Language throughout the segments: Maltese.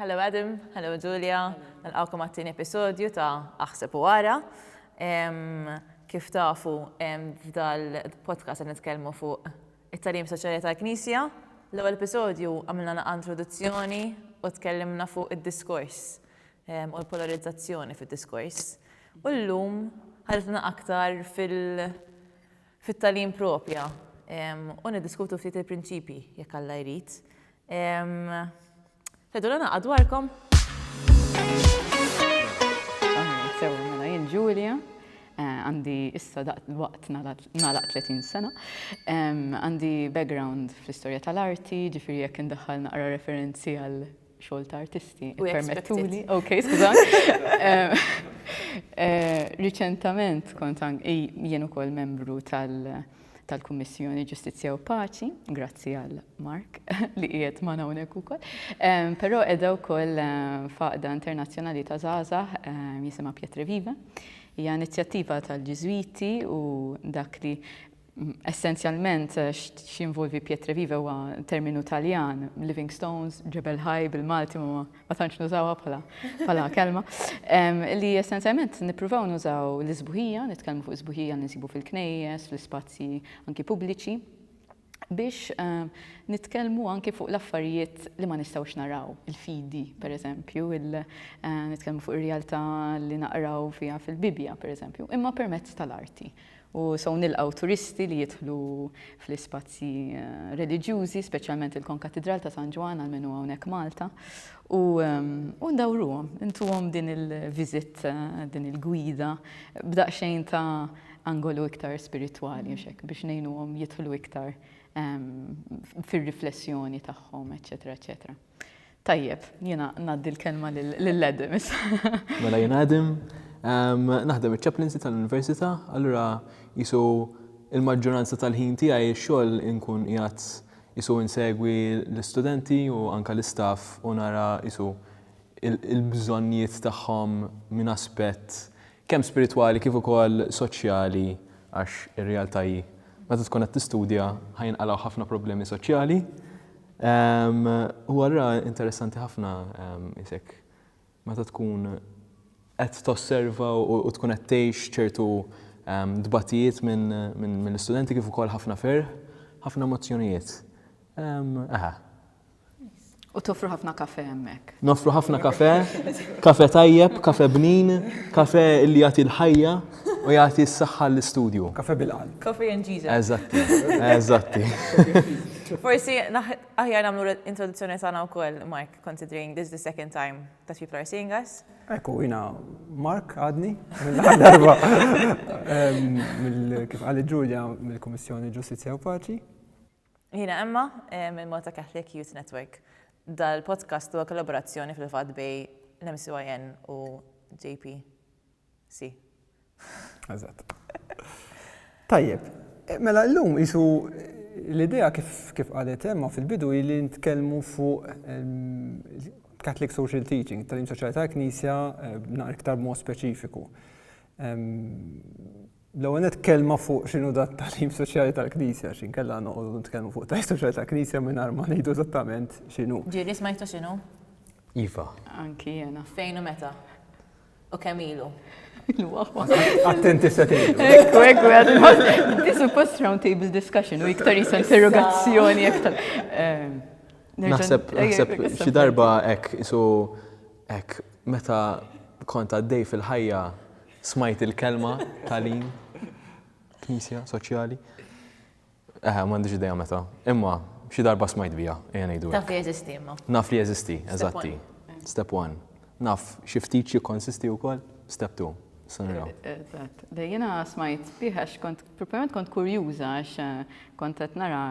Hello Adam, hello Julia, nilqgħukom għat-tieni episodju ta' Aħseb u Ara. Kif tafu f'dal-podcast qed nitkellmu fuq it-tagħlim soċjali tal-Knisja. L-ewwel episodju għamilna naqa' introduzzjoni u tkellimna fuq id-diskors u l-polarizzazzjoni fid-diskors. U llum ħalifna aktar fit-tagħlim propja u niddiskutu ftit il-prinċipji jekk Alla jrid. Teddu l naqa dwarkom. Sewa, mela jien Julia, eh, għandi issa daqt waqt nalaq 30 sena. Għandi background fl-istorja tal-arti, ġifiri jekk indaħħal naqra referenzi għal xogħol ta' artisti. Permettuli. Ok, skużan. Eh, riċentament kont jien ukoll membru tal- tal-Kummissjoni Ġustizzja u Paċi, grazzi għal Mark li qiegħed ma' hawnhekk ukoll. Ehm, però qiegħda wkoll ehm, faqda internazzjonali ta' żgħażagħ ehm, jisimha Pietre Viva. Hija inizjattiva tal-Ġiżwiti u dak li mm, essenzjalment eh, x'involvi Pietre Viva huwa terminu Taljan, Living Stones, Ġebel Ħaj bil-Malti ma ma tantx nużawha bħala bħala kelma, li essenzjalment nippruvaw nużaw l-isbuħija, nitkellmu fuq isbuħija li nsibu fil-knejjes, fl-ispazji anki pubbliċi, biex nitkellmu anki fuq l-affarijiet li ma nistgħux naraw, il-fidi, per eżempju, nitkellmu fuq ir-realtà li naqraw fiha fil-Bibbja, per eżempju, imma permezz tal-arti. U sew nilqgħu turisti li jidħlu fl-ispazji reliġjużi, speċjalment il-Konkatidral ta' San Ġwann għal min hu hawnhekk Malta, u u ndawruhom, intuhom din il-visit, din il-gwida b'daqsxejn ta' angolu iktar spiritwali għax hekk biex ngħinuhom jidħlu iktar fir-riflessjoni tagħhom, eċċetera, eċċetera. Tajjeb, jiena ngħaddi l-kelma lil Adam issa. Mela jien Adam, naħdem iċ-ċaplinsi tal-università, allura jisu il-maġġoranza tal-ħin tiegħi x-xogħol inkun qiegħed jisu insegwi l-istudenti u anke l-istaff u nara jisu il-bżonnijiet tagħhom minn aspett kemm spiritwali kif ukoll soċjali għax ir-realtà hi meta tkun qed tistudja ħa jinqalgħu ħafna problemi soċjali. Huwa allura interessanti ħafna isek meta tkun qed tosserva u tkun qed tgħix ċertu dbatijiet minn l-istudenti kif ukoll ħafna ferħ, ħafna emozzjonijiet. Eħe, U toffru ħafna kafe hemmhekk. Noffru ħafna kafe, kafe tajjeb, kafe bnin, kafe li jagħti l-ħajja u jagħti s-saħħa l-istudju. Kafe bil-qalb. Kafe and Jesus. Eżatti, eżatti. Forsi aħjar nagħmlu introduzzjoni tagħna wkoll, Mark, considering this is the second time that people are seeing us. Ekku, jina Mark għadni, mill-darba, kif għalli Ġulja mill-Komissjoni Ġustizja u Paċi. Jiena Emma minn Malta Catholic Youth Network. Dal-podcast huwa kollaborazzjoni fil-fatt bej l-MCYN u JPC. Eżatt. Tajjeb, mela llum isu l-idea kif qalet Emma fil-bidu hi li nitkellmu fuq Catholic Social Teaching, it-tagħlim soċjali tal-Knisja naqra iktar b'mod speċifiku. L-ewwel nett kelma fuq x'inhu da t-tagħlim soċjali tal-Knisja, x'inkella noqogħdu nitkellmu fuq tagħlim soċjali tal-Knisja mingħajr ma ngħidu eżattament x'inhu. Ġieli smajtu x'inhu? Iva. Anki jiena. Fejn u meta? U kemm ilu? Attenti se tgħidu. Ekku, ekku, għadu. Di suppost round table discussion u iktar jisa interrogazzjoni iktar. Ehm, naħseb, naħseb, xi darba hekk isu hekk meta kont għaddej fil-ħajja Smajt il-kelma tagħlim, knisja, soċjali. Eħe, m'għandix idea meta. Imma xi darba smajt biha, ejja ngħidu. Taf li jeżisti imma. Naf li jeżisti, eżatti. Step one. Naf xi ftit xi konsisti wkoll, step two. Sanira. Eżatt. Dejjina smajt biha x'kont proprjament kont kurjuża għax eh, kont qed nara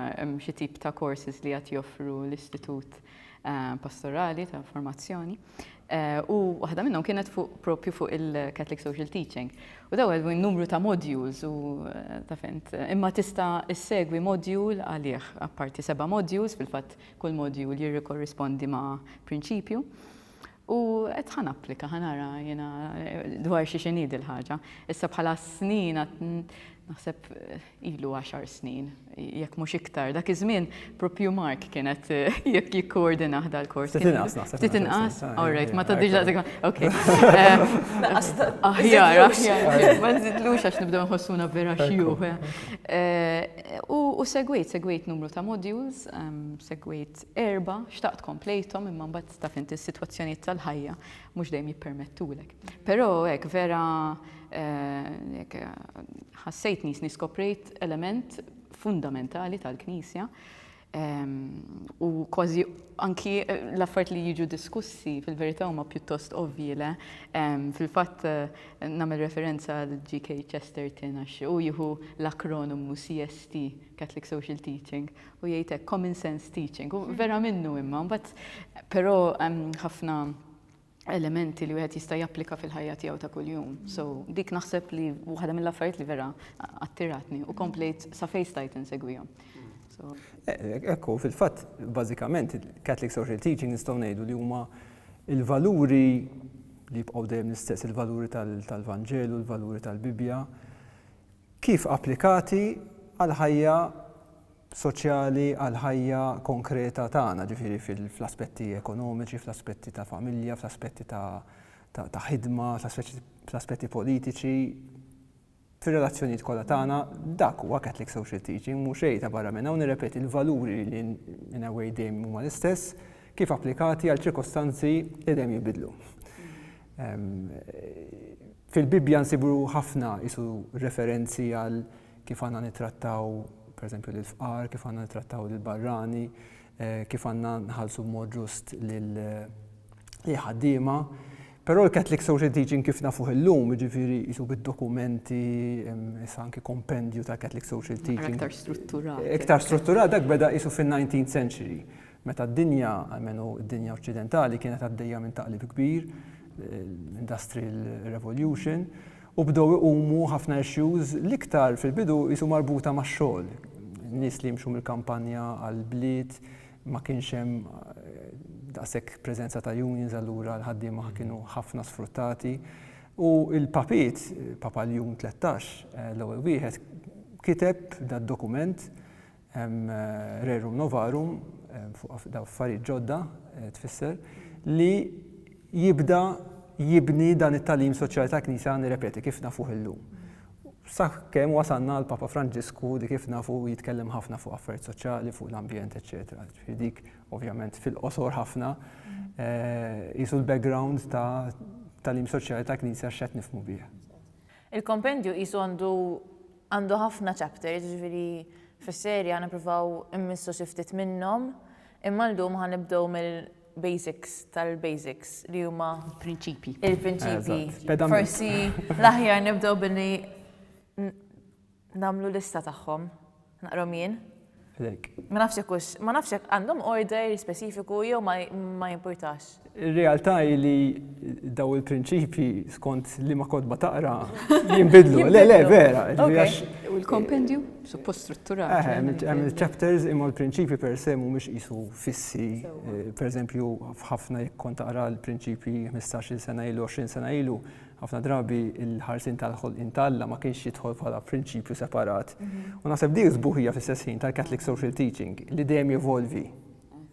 xi tip ta' courses li qed joffru l-istitut pastorali ta' formazzjoni u waħda minnhom kienet fuq propju fuq il-Catholic Social Teaching. U daw għedwin numru ta' modules u eh, ta' fint. Imma tista' issegwi module għalih, apparti seba' modules, fil-fatt kull module jirrikorrispondi ma' prinċipju. U qed ħa napplika, ħa nara jiena dwar xi xi ngħid il-ħaġa. Issa bħala snin naħseb ilu għaxar snin, jekk mhux iktar. Dak iż-żmien propju Mark kienet jekk jikkoordina ħda l-kors. Ftit inqas naħseb. Ftit inqas, all right, ma tgħaddix daqsek. Ok. Aħjar, aħjar. Ma nżidlux għax nibdew nħossuna vera xjuħ. U segwejt, segwejt numru ta' modules, segwejt erba, xtaqt komplejthom imma mbagħad taf int is-sitwazzjonijiet tal-ħajja mhux dejjem jippermettulek. Però hekk vera ħassejt nisni skoprejt element fundamentali tal-Knisja u kważi anki l-affert li jiġu diskussi fil-verità huma pjuttost ovvji le. Fil-fatt nagħmel referenza għal GK Chesterton għax u jieħu l-akronomu CST, Catholic Social Teaching, u jgħid hekk common sense teaching, u vera minnu imma, mbagħad però hemm ħafna elementi li wieħed jista' japplika fil-ħajja tiegħu ta' kuljum. So dik naħseb li waħda mill-affarijiet li vera attiratni u komplejt sa fejn stajt insegwihom. Eh, ekku, fil-fatt, bażikament, Catholic Social Teaching nistgħu ngħidu li huma il-valuri li jibqgħu dejjem l-istess, il-valuri tal-Vanġelu, il-valuri tal-Bibja, Kif applikati għall-ħajja soċjali, għall-ħajja konkreta tagħna, ġifieri fl-aspetti ekonomiċi, fl-aspetti ta' familja, fl-aspetti ta' ħidma, fl-aspetti politiċi, fir-relazzjonijiet kollha tagħna, dak huwa Catholic Social Teaching, mhu xejn ta' barra minn hawn, nirrepeti l-valuri li in a way dejjem huma l-istess, kif applikati għal ċirkostanzi li dejjem jinbidlu. Fil-Bibbja nsibu ħafna isu referenzi għal kif għandna nittrattaw pereżempju lill-fqar, kif għandna nittrattaw lill-barrani, eh, kif għandna nħallsu b'mod ġust lil eh, ħaddiema. Però l-Catholic Social Teaching kif nafuh illum, ġifiri jisu bid-dokumenti, issa anki kompendju ta' Catholic Social Teaching. Iktar strutturat. Iktar strutturat, dak beda jisu fin-19th century. Meta d-dinja, almenu d-dinja oċċidentali, kienet għaddejja minn taqlib kbir, l-industrial revolution, u bdew iqumu ħafna issues l-iktar fil-bidu qisu marbuta max-xogħol. Nies li jimxu mill-kampanja għall-bliet, ma kienx hemm daqshekk preżenza ta' unions allura l-ħaddiema kienu ħafna sfruttati. U l-papiet, Papa Ljun 13, l-ewwel wieħed, kiteb dad-dokument Rerum novarum, fuq daw affarijiet ġodda, tfisser, li jibda jibni dan it-talim soċjali ta' knisja nirrepeti kif nafuh illum. Saħ kemm wasanna għal Papa Franġisku li kif nafu jitkellem ħafna fuq affarijiet soċjali, fuq l-ambjent, eċetera. Dik ovvjament fil-qosor ħafna jisu eh, l-background ta' talim soċjali ta' knisja x'qed nifmu bih. Il-kompendju jisu għandu Għandu ħafna chapters, jiġifieri fis-serje ħa nippruvaw immissu xi ftit minnhom, imma llum ħa nibdew mill-basics tal-basics li huma. Il-prinċipji. Il-prinċipji. Forsi l-aħjar nibdew billi nagħmlu lista tagħhom. Naqrahom jien. Għalhekk. Ma nafx jekk hux, ma nafx jekk għandhom order speċifiku jew ma jimpurtax. Ir-realtà hi li daw il-prinċipji skont liema kotba taqra jinbidlu. Le, le, vera. U l-kompendju suppost strutturat. Hemm il-chapters imma l-prinċipji per se mhumiex qisu fissi. Pereżempju, f'ħafna jekk kont taqra l-prinċipji 15-il sena ilu, 20 sena ilu, Ħafna drabi l-ħarsien tal-ħolqien ta' Alla ma kienx jidħol bħala prinċipju separat. U naħseb dik sbuħija fl-istess ħin tal-Catholic Social Teaching li dejjem jevolvi.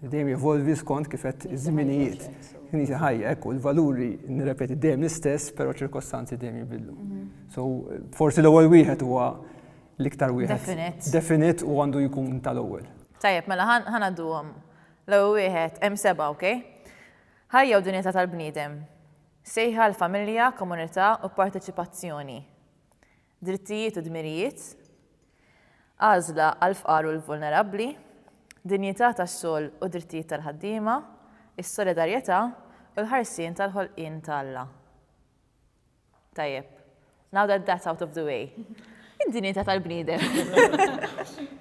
Dejjem jevolvi skont kif qed iż-żminijiet. Knisja ħajja, ekku, l-valuri nirrepeti dejjem l-istess, però ċirkostanzi dejjem jibidlu. Mhm. So, forsi l-ewwel wieħed huwa l-iktar wieħed. Definit. Definit u għandu jkun tal-ewwel. Tajjeb, mela ħanadduhom. L-ewwel wieħed, hemm seba', ok? Ħajja u dinjeta tal-bniedem. Sejħa għal familja, komunità u parteċipazzjoni, drittijiet u dmirijiet, għażla għall-fqar u l-vulnerabbli, dinjità tax-xogħol u drittijiet tal-ħaddiema, is-solidarjetà u l-ħarsien tal-ħolqien ta' Alla. Tajjeb. Now that that's out of the way. Id-dinjità tal-bniedem.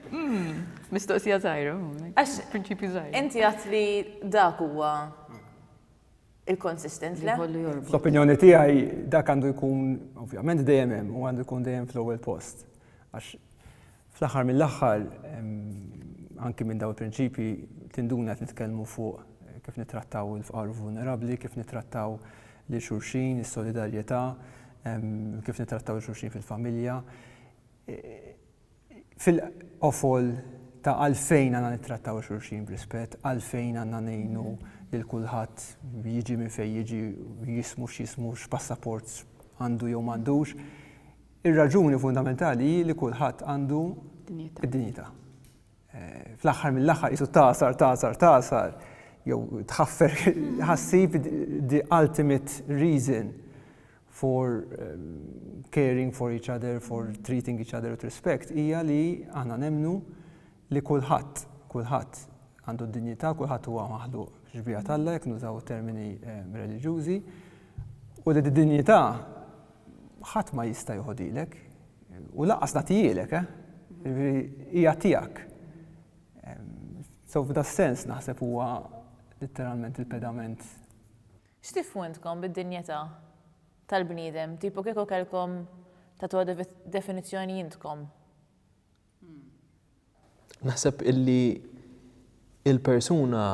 Hmm, mistoqsija żgħira. Għax prinċipju żgħir. Inti għat li dak huwa il-konsistenti. L-opinjoni tiegħi dak għandu jkun ovvjament dejjem hemm u għandu jkun dejjem fl-ewwel post. Għax Fl-aħħar mill-aħħar, anki minn dawn il-prinċipji tinduna qed nitkellmu fuq kif nittrattaw il-fqar u l-vulnerabbli, kif nittrattaw lil xulxin, is-solidarjetà, kif nittrattaw lil xulxin fil-familja. Fil-qofol ta' għalfejn għandna nittrattaw lil xulxin b'rispett, għalfejn għandna ngħinu lil kulħadd jiġi minn fejn jiġi, jismu x'jismu, x'passaport għandu jew m'għandux, Ir-raġuni fundamentali hi li kulħadd għandu d-dinjità. Fl-aħħar mill-aħħar qisu tagħsar, tagħsar, tagħsar, jew tħaffer ħassib the ultimate reason for caring for each other, for treating each other with respect, hija li aħna nemmnu li kulħadd, kulħadd għandu d-dinjità, kulħadd huwa maħluq fix-xbieha t'Alla, jekk nużaw termini reliġjużi, u li d-dinjità ħadd ma jista' joħodilek, u lanqas nagħtihielek, eh? Jiġifieri hija tiegħek. So f'da s-sens naħseb huwa litteralment il-pedament. X'tifhmu intkom bid-dinjità tal-bniedem? Tipo kieku kellkom tagħtuha definizzjoni intkom? Naħseb illi il-persuna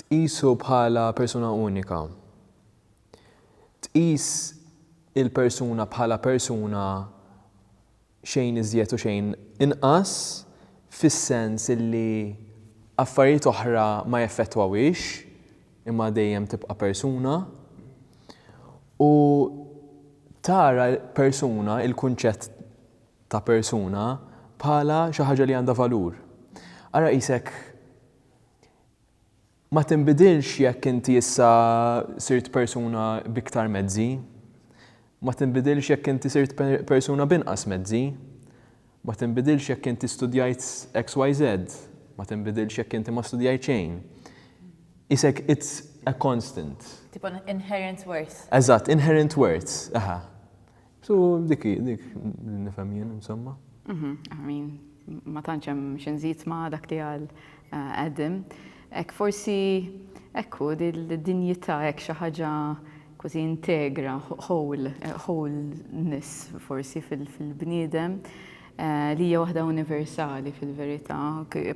tqisu bħala persuna unika. Tqis il-persuna bħala persuna xejn iżjed u xejn inqas fis-sens illi affarijiet oħra ma jeffettwawhiex imma dejjem tibqa' persuna. U tara persuna, il-kunċett ta' persuna bħala xi ħaġa li għandha valur. Ara qisek ma tinbidilx jekk inti issa sirt persuna b'iktar mezzi, ma tinbidilx jekk inti sirt persuna b'inqas mezzi, ma tinbidilx jekk inti studjajt XYZ, ma tinbidilx jekk inti ma studjajt xejn. Qisek it's a constant. Tipo inherent worth. Eżatt, inherent worth, aha. So dik dik nifhem jien insomma. Mhm, I mean, ma tantx hemm xi nżid ma' dak li għal eh, Adam. Ek forsi ekku dil-dinjità hekk xi ħaġa kważi integra, whole, eh, wholeness forsi fil-bniedem eh, li hija waħda universali fil-verità,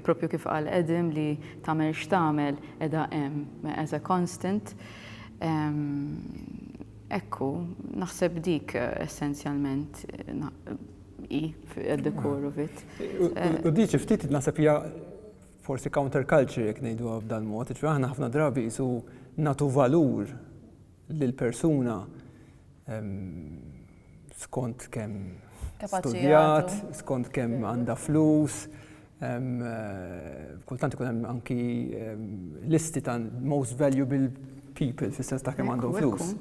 propju kif qal Adam li tagħmel x'tagħmel edha hemm as a constant. Ehm, Hekk hu, naħseb dik essenzjalment hi d-dekoru vit. U di xi ftit naħseb hija forsi counter culture jekk ngħiduha b'dan mod, jiġifieri aħna ħafna drabi qisu nagħtu valur lil persuna skont kemm studjat, skont kemm għandha flus, Kultant ikun hemm anki listi ta' most valuable people fis-sens ta' kemm għandhom flus.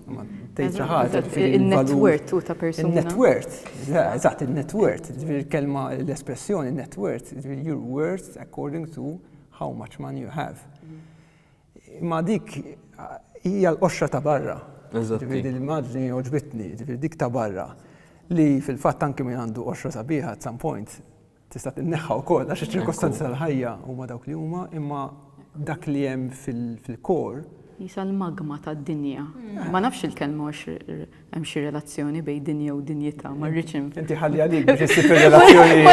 Tgħid xi ħaġa il-net worth ta' persuna. Il-net worth, eżatt, il-net worth, ġifieri l-kelma l-espressjoni net worth, ġifieri your worth according to how much money you have. Imma dik hija l-qoxra ta' barra. Ġifieri din l-immaġni għoġbitni, ġifieri dik ta' barra li fil-fatt anki min għandu qoxra sabiħa at some point Tista' tinneħħa wkoll għax iċ-ċirkostanzi tal-ħajja huma dawk li huma, imma dak li hemm fil-kor. Qisha l-magma tad-dinja. Ma nafx il-kelma għax hemm xi relazzjoni bejn dinja u dinjità, ma rridx. Inti ħalli għalik biex issib ir-relazzjoni.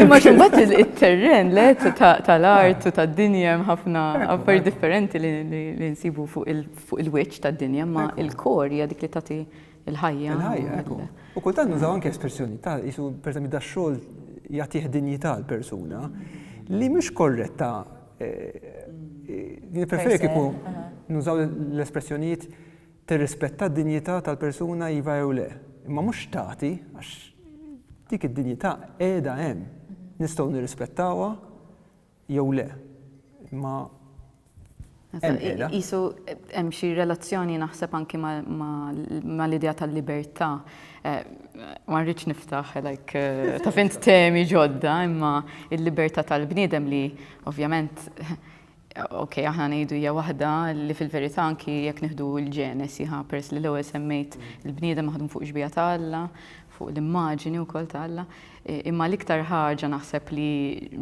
Imma x'imbagħad it-terren le tal-art u tad-dinja hemm ħafna affarijiet differenti li nsibu fuq il-wiċċ tad-dinja, imma l-kor hija dik li tagħti. il-ħajja. Il-ħajja, ekku. U kultant nużaw anke espressjoni ta' jisu perżempju da xogħol jagħtih dinjità l-persuna li mhux korretta eh, eh, preferi kieku nużaw l-espressjonijiet tirrispetta d-dinjità tal-persuna iva jew le. Imma mhux tagħti għax dik id-dinjità qiegħda hemm. Nistgħu nirrispettawha jew le, imma hemm qiegħda. Qisu hemm xi relazzjoni naħseb anki mal-idea tal-libertà. Ma rridx niftaħ like taf int temi ġodda, imma l-libertà tal-bniedem li ovvjament ok aħna ngħidu hija waħda li fil-verità anki jekk nieħdu l-Ġenesi ħa peress li l-ewwel semmejt il-bniedem maħdum fuq ix-xbieha ta' Alla, fuq l-immaġini wkoll ta' Alla. Imma l-iktar ħaġa naħseb li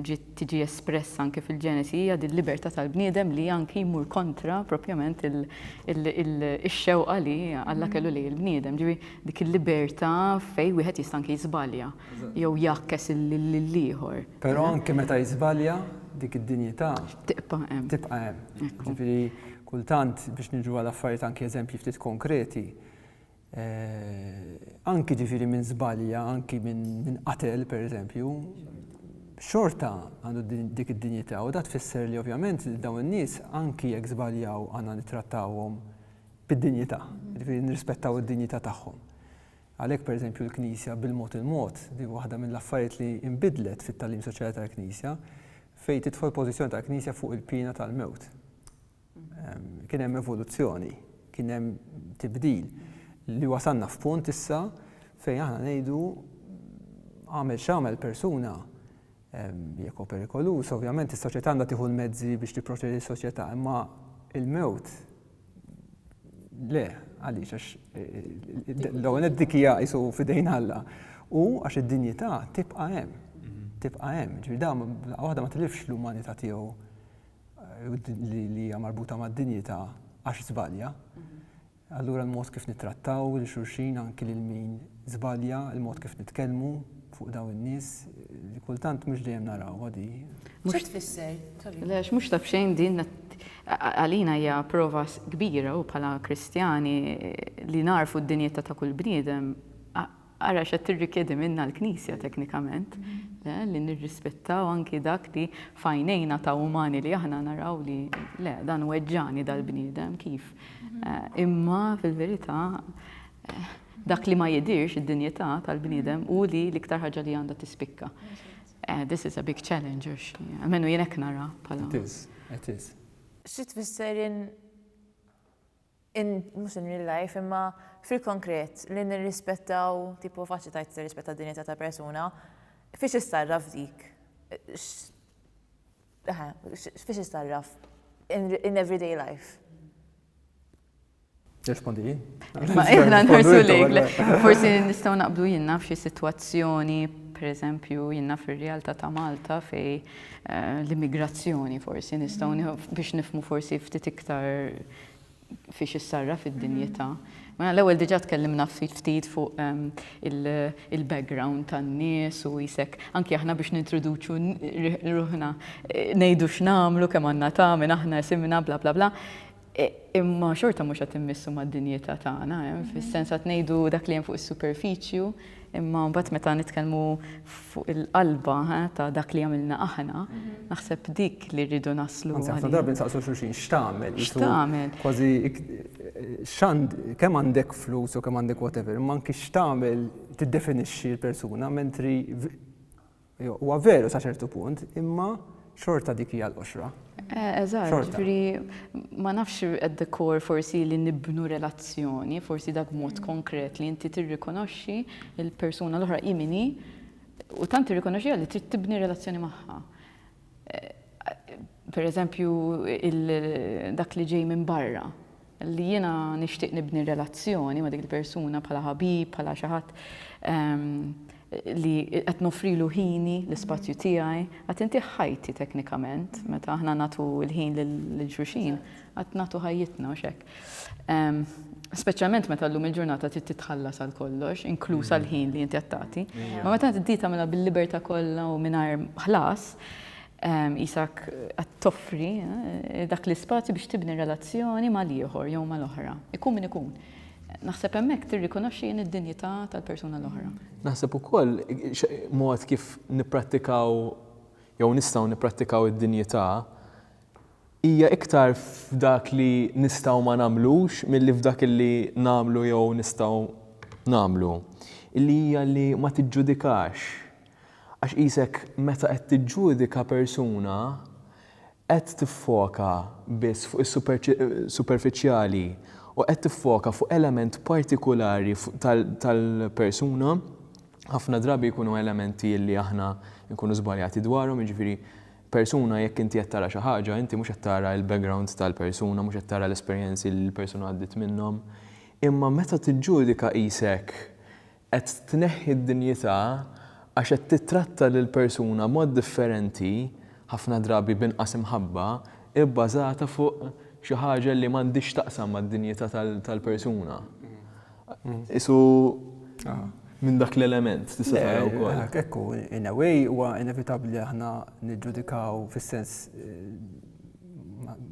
ġiet tiġi espressa anke fil-Ġenesi hija din libertà tal-bniedem li anki jmur kontra propjament ix-xewqa li Alla kellu lejn il-bniedem. Ġifi dik il-libertà fejn wieħed jista' anke jiżbalja jew jgħakkes lill-ieħor. Però anke meta jiżbalja dik id-dinjità. Tibqa' hemm. Tibqa' hemm. Ġifieri kultant biex niġu għal affarijiet anke eżempji ftit konkreti, anki ġifiri minn zbalja, anki minn qatel per eżempju, xorta għandu dik id-dinjità u da tfisser li ovvjament li dawn in-nies anki jekk żbaljaw għandna nittrattawhom bid-dinjità, ġifieri nirrispettaw id-dinjità tagħhom. Għalhekk per eżempju l-Knisja bil-mod il-mod li waħda mill-affarijiet li inbidlet fit-tagħlim soċjali tal-Knisja fejn tidħol pożizzjoni tal-Knisja fuq il-piena tal-mewt. Kien hemm evoluzzjoni, kien hemm tibdil li wasalna f'punt issa fejn aħna ngħidu għamel x'għamel persuna jekk hu perikoluż, ovvjament is-soċjetà għandha tieħu l-mezzi biex tipproteġi s-soċjetà, imma il-mewt le għaliex għax eh, l-ewwel dik hija isu fidejn Alla. U għax id-dinjità tibqa' hemm, mhm. tibqa' hemm, ġifieri waħda ma tilifx l-umanità tiegħu li hija marbuta mad-dinjità għax żbalja. Allura l-mod kif nittrattaw lil xulxin anki lil min żbalja, il-mod kif nitkellmu fuq dawn in-nies li kultant mhux dejjem naraw għadi. Mhux tfisser. Lex mhux taf xejn din għalina hija prova kbira u bħala Kristjani li narfu d-dinjità ta' kull bniedem Ara x'qed tirrikjedi minna l-Knisja teknikament, le, li nirrispettaw anki dak li f'għajnejna ta' umani li aħna naraw li le, dan weġġagħni dal-bniedem, kif? Imma fil-verità dak li ma jidhirx id-dinjità tal-bniedem hu li l-iktar ħaġa li għandha tispikka. Eh, this is a big challenge, għax għamenu jenek nara pala. It is, it is. Xi tfisser in in, mhux in real life, imma fil-konkret, li nirrispettaw, tipo faċli tgħid tirrispetta d-dinjità ta' persuna, fiex issarraf dik? Eħe, fiex issarraf? In everyday life. Rispondi jien. Ma jibna nħarsu lejk, forsi nistgħu naqblu jien naf xi sitwazzjoni, pereżempju jiena fir-realtà ta' Malta fej eh, l-immigrazzjoni forsi nistgħu biex nifmu forsi ftit iktar fiex issarraf id-dinjità. Mela l-ewwel diġà tkellimna ftit ftit fuq ehm, il-background tan-nies u jisek anki aħna biex nintroduċu ruħna eh, ngħidu x'namlu kemm għandna ta' minn aħna simna bla bla bla. E, imma xorta mhux qed immissu mad-dinjità tagħna, eh, fis-sens qed ngħidu dak li hemm fuq is-superfiċju Imma mbagħad meta nitkellmu fuq il-qalba ta' dak li għamilna aħna, naħseb dik li rridu naslu. Anzi, ħafna drabi nsaqsu xulxin x'tagħmel. X'tagħmel. Kważi x'għand kemm għandek flus u kemm għandek whatever, imma anki x'tagħmel tiddefinixxi l-persuna, mentri Huwa veru sa ċertu punt, imma xorta dik hija l-qoxra. Eh, eżatt, ġifieri ma nafx at the core forsi li nibnu relazzjoni, forsi dak mod mm. konkret li inti tirrikonoxxi il-persuna l-oħra imini u tant tirrikonoxxi li trid tibni relazzjoni magħha. per eżempju, dak li ġej minn barra, li jiena nixtieq nibni relazzjoni ma' dik il-persuna bħala ħabib, bħala xi ħadd li qed noffrilu ħini, l-ispazju tiegħi, qed intih ħajti teknikament, meta aħna nagħtu l-ħin lil xulxin, qed nagħtu ħajjitna, mhux hekk? Speċjalment meta llum il-ġurnata trid titħallas għal kollox, inkluż għal ħin li inti qed tagħti. Ma meta tdi tagħmilha bil-libertà kollha u mingħajr ħlas, isak qed toffri eh, dak l-ispazju biex tibni relazzjoni mal-ieħor jew mal-oħra. Ikun min ikun. Naħseb hemmhekk tirrikonoxxi jien id-dinjità tal-persuna l-oħra. Naħseb ukoll mod kif nipprattikaw jew nistgħu nipprattikaw id-dinjità Hija iktar f'dak li nistgħu ma nagħmlux milli f'dak li nagħmlu jew nistgħu nagħmlu, li hija li ma tiġġudikax. Għax qisek meta qed tiġġudika persuna qed tiffoka biss fuq is-superfiċjali u qed tiffoka fuq element partikulari tal-persuna, ħafna drabi jkunu elementi li aħna nkunu żbaljati dwarhom, jiġifieri, persuna jekk inti qed tara xi ħaġa, inti mhux qed tara l-background tal-persuna, mhux qed tara l-esperjenzi li l-persuna għaddiet minnhom. Imma meta tiġġudika qisek qed tneħħi d-dinjità għax qed tittratta lill-persuna b'mod differenti, ħafna drabi b'inqas imħabba, ibbażata fuq xi ħaġa li m'għandhiex x'taqsam mad-dinjità tal-persuna. Isu minn dak l-element, tista' tara wkoll. Ekku, in a way huwa inevitabbli li aħna niġġudikaw fis-sens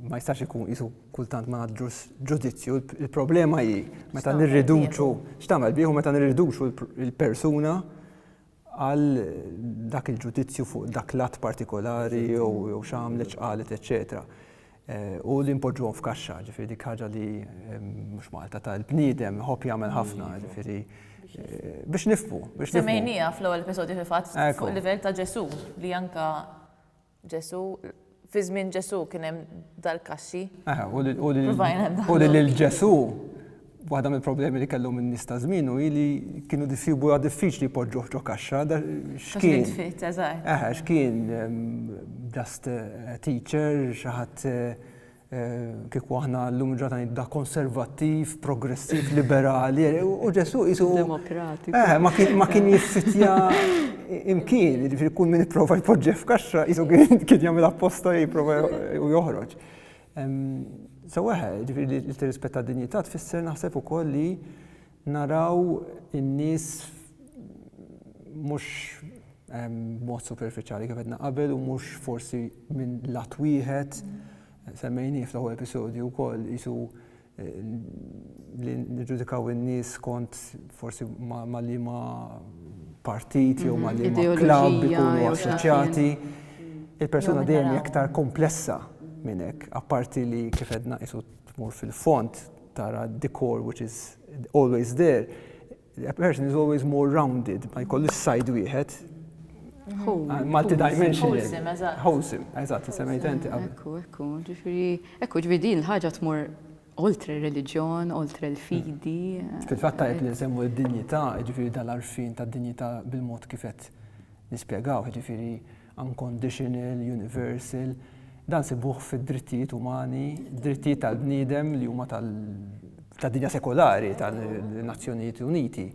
ma jistax ikun isu kultant ma nagħtux ġudizzju. Il-problema hi meta nirriduċu x'tagħmel bih u meta nirriduċu l-persuna għal dak il-ġudizzju fuq dak l-att partikolari jew x'għamlet, x'qalet, eċċetera U li npoġġuhom f'kaxxa, ġifieri dik ħaġa li mhux Malta ta' l-bniedem iħobb jagħmel ħafna, ġifieri biex nifhmu. Semmejniha fl-ewwel episodju fil-fatt fuq livell ta' Ġesù li anke Ġesù, fi żmien Ġesù kien hemm dal-kaxxi. Aha, u li- u li- Provajna nagħmlu. u li lil Ġesù, waħda mill-problemi li kellhom in-nies ta' żmienu hi li kienu jsibuha diffiċli jpoġġuh ġo kaxxa, da- Kaxxi x'kien. tfit, eżatt. Aha, x'kien, ehm, just a teacher, xi ħadd eh, Kieku aħna llum il-ġurnata ngħidha konservattiv, progressiv, liberali, u Ġesu qisu. Demokratiku. Eh, ma kien ma kien jiffitja imkien, jiġifieri kull min ipprova jpoġġi f'kaxxa qisu kien kien jagħmel apposta jipprova u joħroġ. Seweħ, jiġifieri li tirrispetta d-dinjità tfisser naħseb ukoll li Naraw in-nies mhux b'mod superfiċjali kif għedna qabel u mhux forsi minn lat wieħed, semmejnieh fl-ewwel episodju wkoll qisu li niġġudikaw in-nies kont forsi ma' liema partit jew ma' liema klabb ikunu assoċjati. Il-persuna dejjem hija aktar komplessa minn hekk, apparti li kif għedna qisu tmur fil-fond tara d-decor which is always there, a person is always more rounded, ma jkollu s-sajd wieħed. Malti dimension. Wholesome, eżatt. Wholesome, eżatt, semmejt enti qabel. Ekku, ekku, ġifiri, ekku, ġifiri din ħaġa tmur oltre reliġjon, oltre l-fidi. Mm. Fil-fatt tajb li nsemmu d-dinjità, ġifiri dal-arfin ta' dinjità bil-mod kifet nispjegaw, ġifiri unconditional, universal, dan nsibuh fid-drittijiet umani, drittijiet tal-bniedem li huma tal, tad-dinja sekolari, tan-Nazzjonijiet Uniti.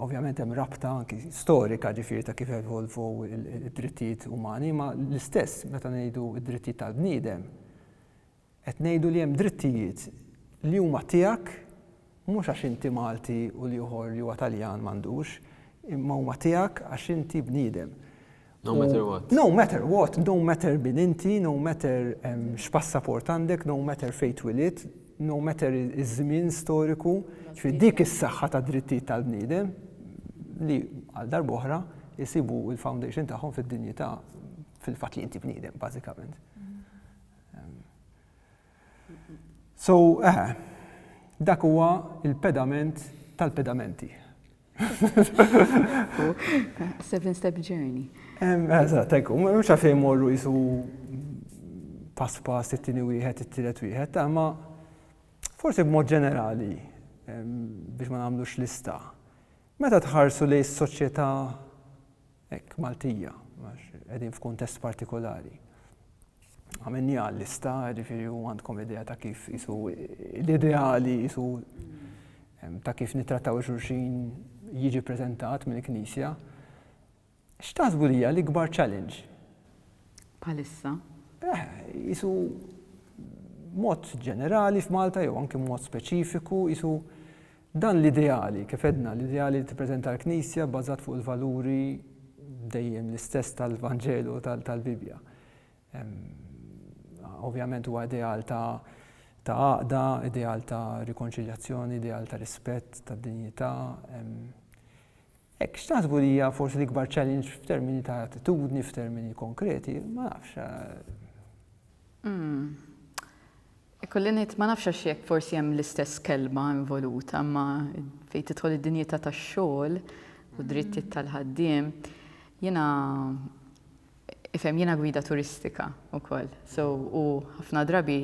Ovvjament hemm rabta anki storika ġifieri ta' kif evolvow id-drittijiet umani, imma l-istess meta ngħidu d-drittijiet tal-bniedem, Qed ngħidu li hemm drittijiet li huma tiegħek mhux għax inti Malti u l-ieħor li huwa Taljan m'għandux, imma huma tiegħek għax inti bniedem. No matter what. No matter what, no matter min inti, no matter x'passaport għandek, no matter fejn twilidt, no matter iż-żmien storiku, ġifieri dik is-saħħa tad-drittijiet tal-bniedem li għal darb'oħra jsibu l-foundation tagħhom fid-dinjità fil-fatt li inti bniedem bażikament. So, eħe, dak huwa l-pedament tal-pedamenti. Seven step journey. Eżatt, ekku, mhux għalfejn morru jisu pass pass it-tieni wieħed, it-tielet wieħed, ma forsi b'mod ġenerali biex ma nagħmlux lista. Meta tħarsu li s-soċjetà hekk Maltija, għax qegħdin f'kuntest partikolari. Għamilniha għal-lista, ġifieri u għandkom idea ta' kif isu l-ideali isu ta' kif nittrattaw xulxin jiġi preżentat mill-Knisja. X'taħsbu li hija l-ikbar challenge? Palissa? Eh, isu mod ġenerali f'Malta jew anki mod speċifiku, isu Dan l-ideali, kif għedna, l-ideali li tippreżenta l-Knisja bbażat fuq il-valuri dejjem l-istess tal-Vanġelu u tal-Bibbja. Ovvjament huwa ideal ta' ta' għaqda, ideal ta' rikonċiljazzjoni, ideal ta' rispett, ta' dinjità. Hekk x'taħsbu li hija forsi l-ikbar challenge f'termini ta' attitudni, f'termini konkreti, ma nafx. Eh. Hmm. Ikolli ngħid, ma nafx għax jekk forsi hemm l-istess kelma involuta, imma fejn tidħol id-dinjità tax-xogħol u d-drittijiet tal-ħaddiem, jiena ifhem jiena gwida turistika wkoll. So u ħafna drabi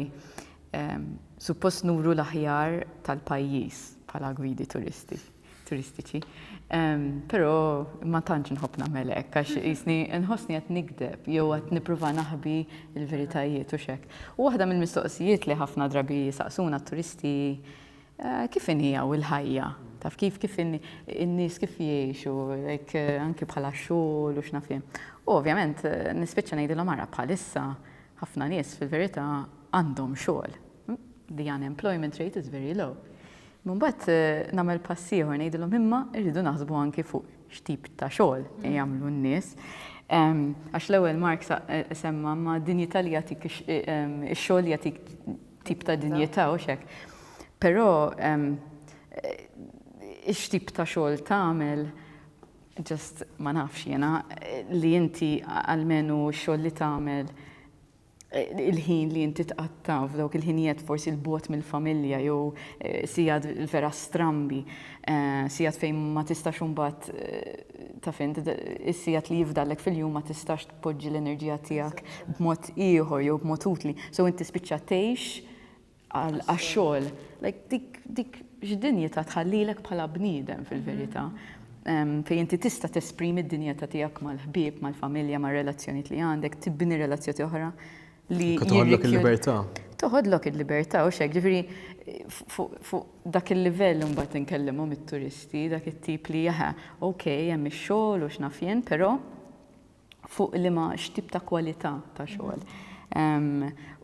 suppost nuru l-aħjar tal-pajjiż bħala gwidi turisti. turistiċi. Però ma tantx nħobb nagħmel hekk għax jisni nħossni qed nikdeb jew qed nippruva naħbi l-veritajiet u xek. U waħda mill-mistoqsijiet li ħafna drabi saqsuna t-turisti eh, kif inhi u l-ħajja? Taf kif kif in-nies kif jgħixu, eh, anki bħala xogħol u x'nafim. U ovvjament eh, nispiċċa ngħidilhom ara bħalissa ħafna nies fil-verità għandhom xogħol. The unemployment rate is very low. Mbagħad nagħmel pass ieħor ngħidilhom imma rridu naħsbu anki fuq x'tip ta' xogħol jagħmlu n-nies. Għax l-ewwel Mark semma ma' dinjità li jagħtik ix-xogħol jagħtik tip ta' dinjità u xek. Però x'tip ta' xogħol tagħmel just ma nafx jiena li inti għalmenu x-xogħol li tagħmel il-ħin li inti tqatta' f'dawk il-ħinijiet forsi 'l bogħod mill-familja jew sigħat vera strambi, sigħat fejn ma tistax imbagħad taf int is-sigħat li jifdallek fil-jum ma tistax tpoġġi l-enerġija tiegħek b'mod ieħor jew b'mod utli. So int tispiċċa tgħix għax-xogħol. Like dik x'dinjità tħallilek bħala bniedem fil-verità fejn inti tista' tesprimi d-dinjità tiegħek mal-ħbieb, mal-familja, mar-relazzjonijiet li għandek, tibni relazzjoni oħra li. Toħodlok il-libertà. Toħodlok il-libertà u xek, ġifieri fuq dak il-livell mbagħad inkellimhom it-turisti, dak it-tip li jaħa, ok, hemm ix-xogħol u x'naf jien, però fuq liema x'tip ta' kwalità ta' xogħol.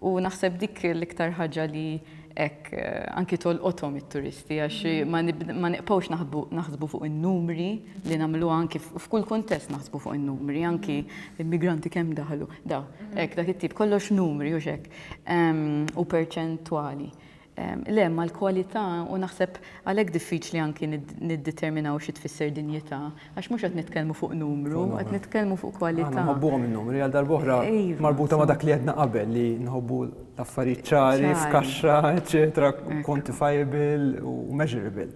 U naħseb dik l-iktar ħaġa li hekk anki tolqothom it-turisti għax ma nibqgħux naħsbu fuq in-numri li nagħmlu anki f'kull kuntest naħsbu fuq in-numri, anki immigranti kemm daħlu, daw, hekk dak it-tip kollox numri u x'hekk u perċentwali. Le, mal-kwalità, u naħseb għalhekk diffiċli anki niddeterminaw xi tfisser dinjità, għax mhux qed nitkellmu fuq numru, qed nitkellmu fuq kwalità. Aħna nħobbuhom in-numri, għal darb'oħra marbuta ma' dak li għedna qabel li nħobbu l-affarijiet ċari, f'kaxxa, eċċetera, quantifiable u measurable.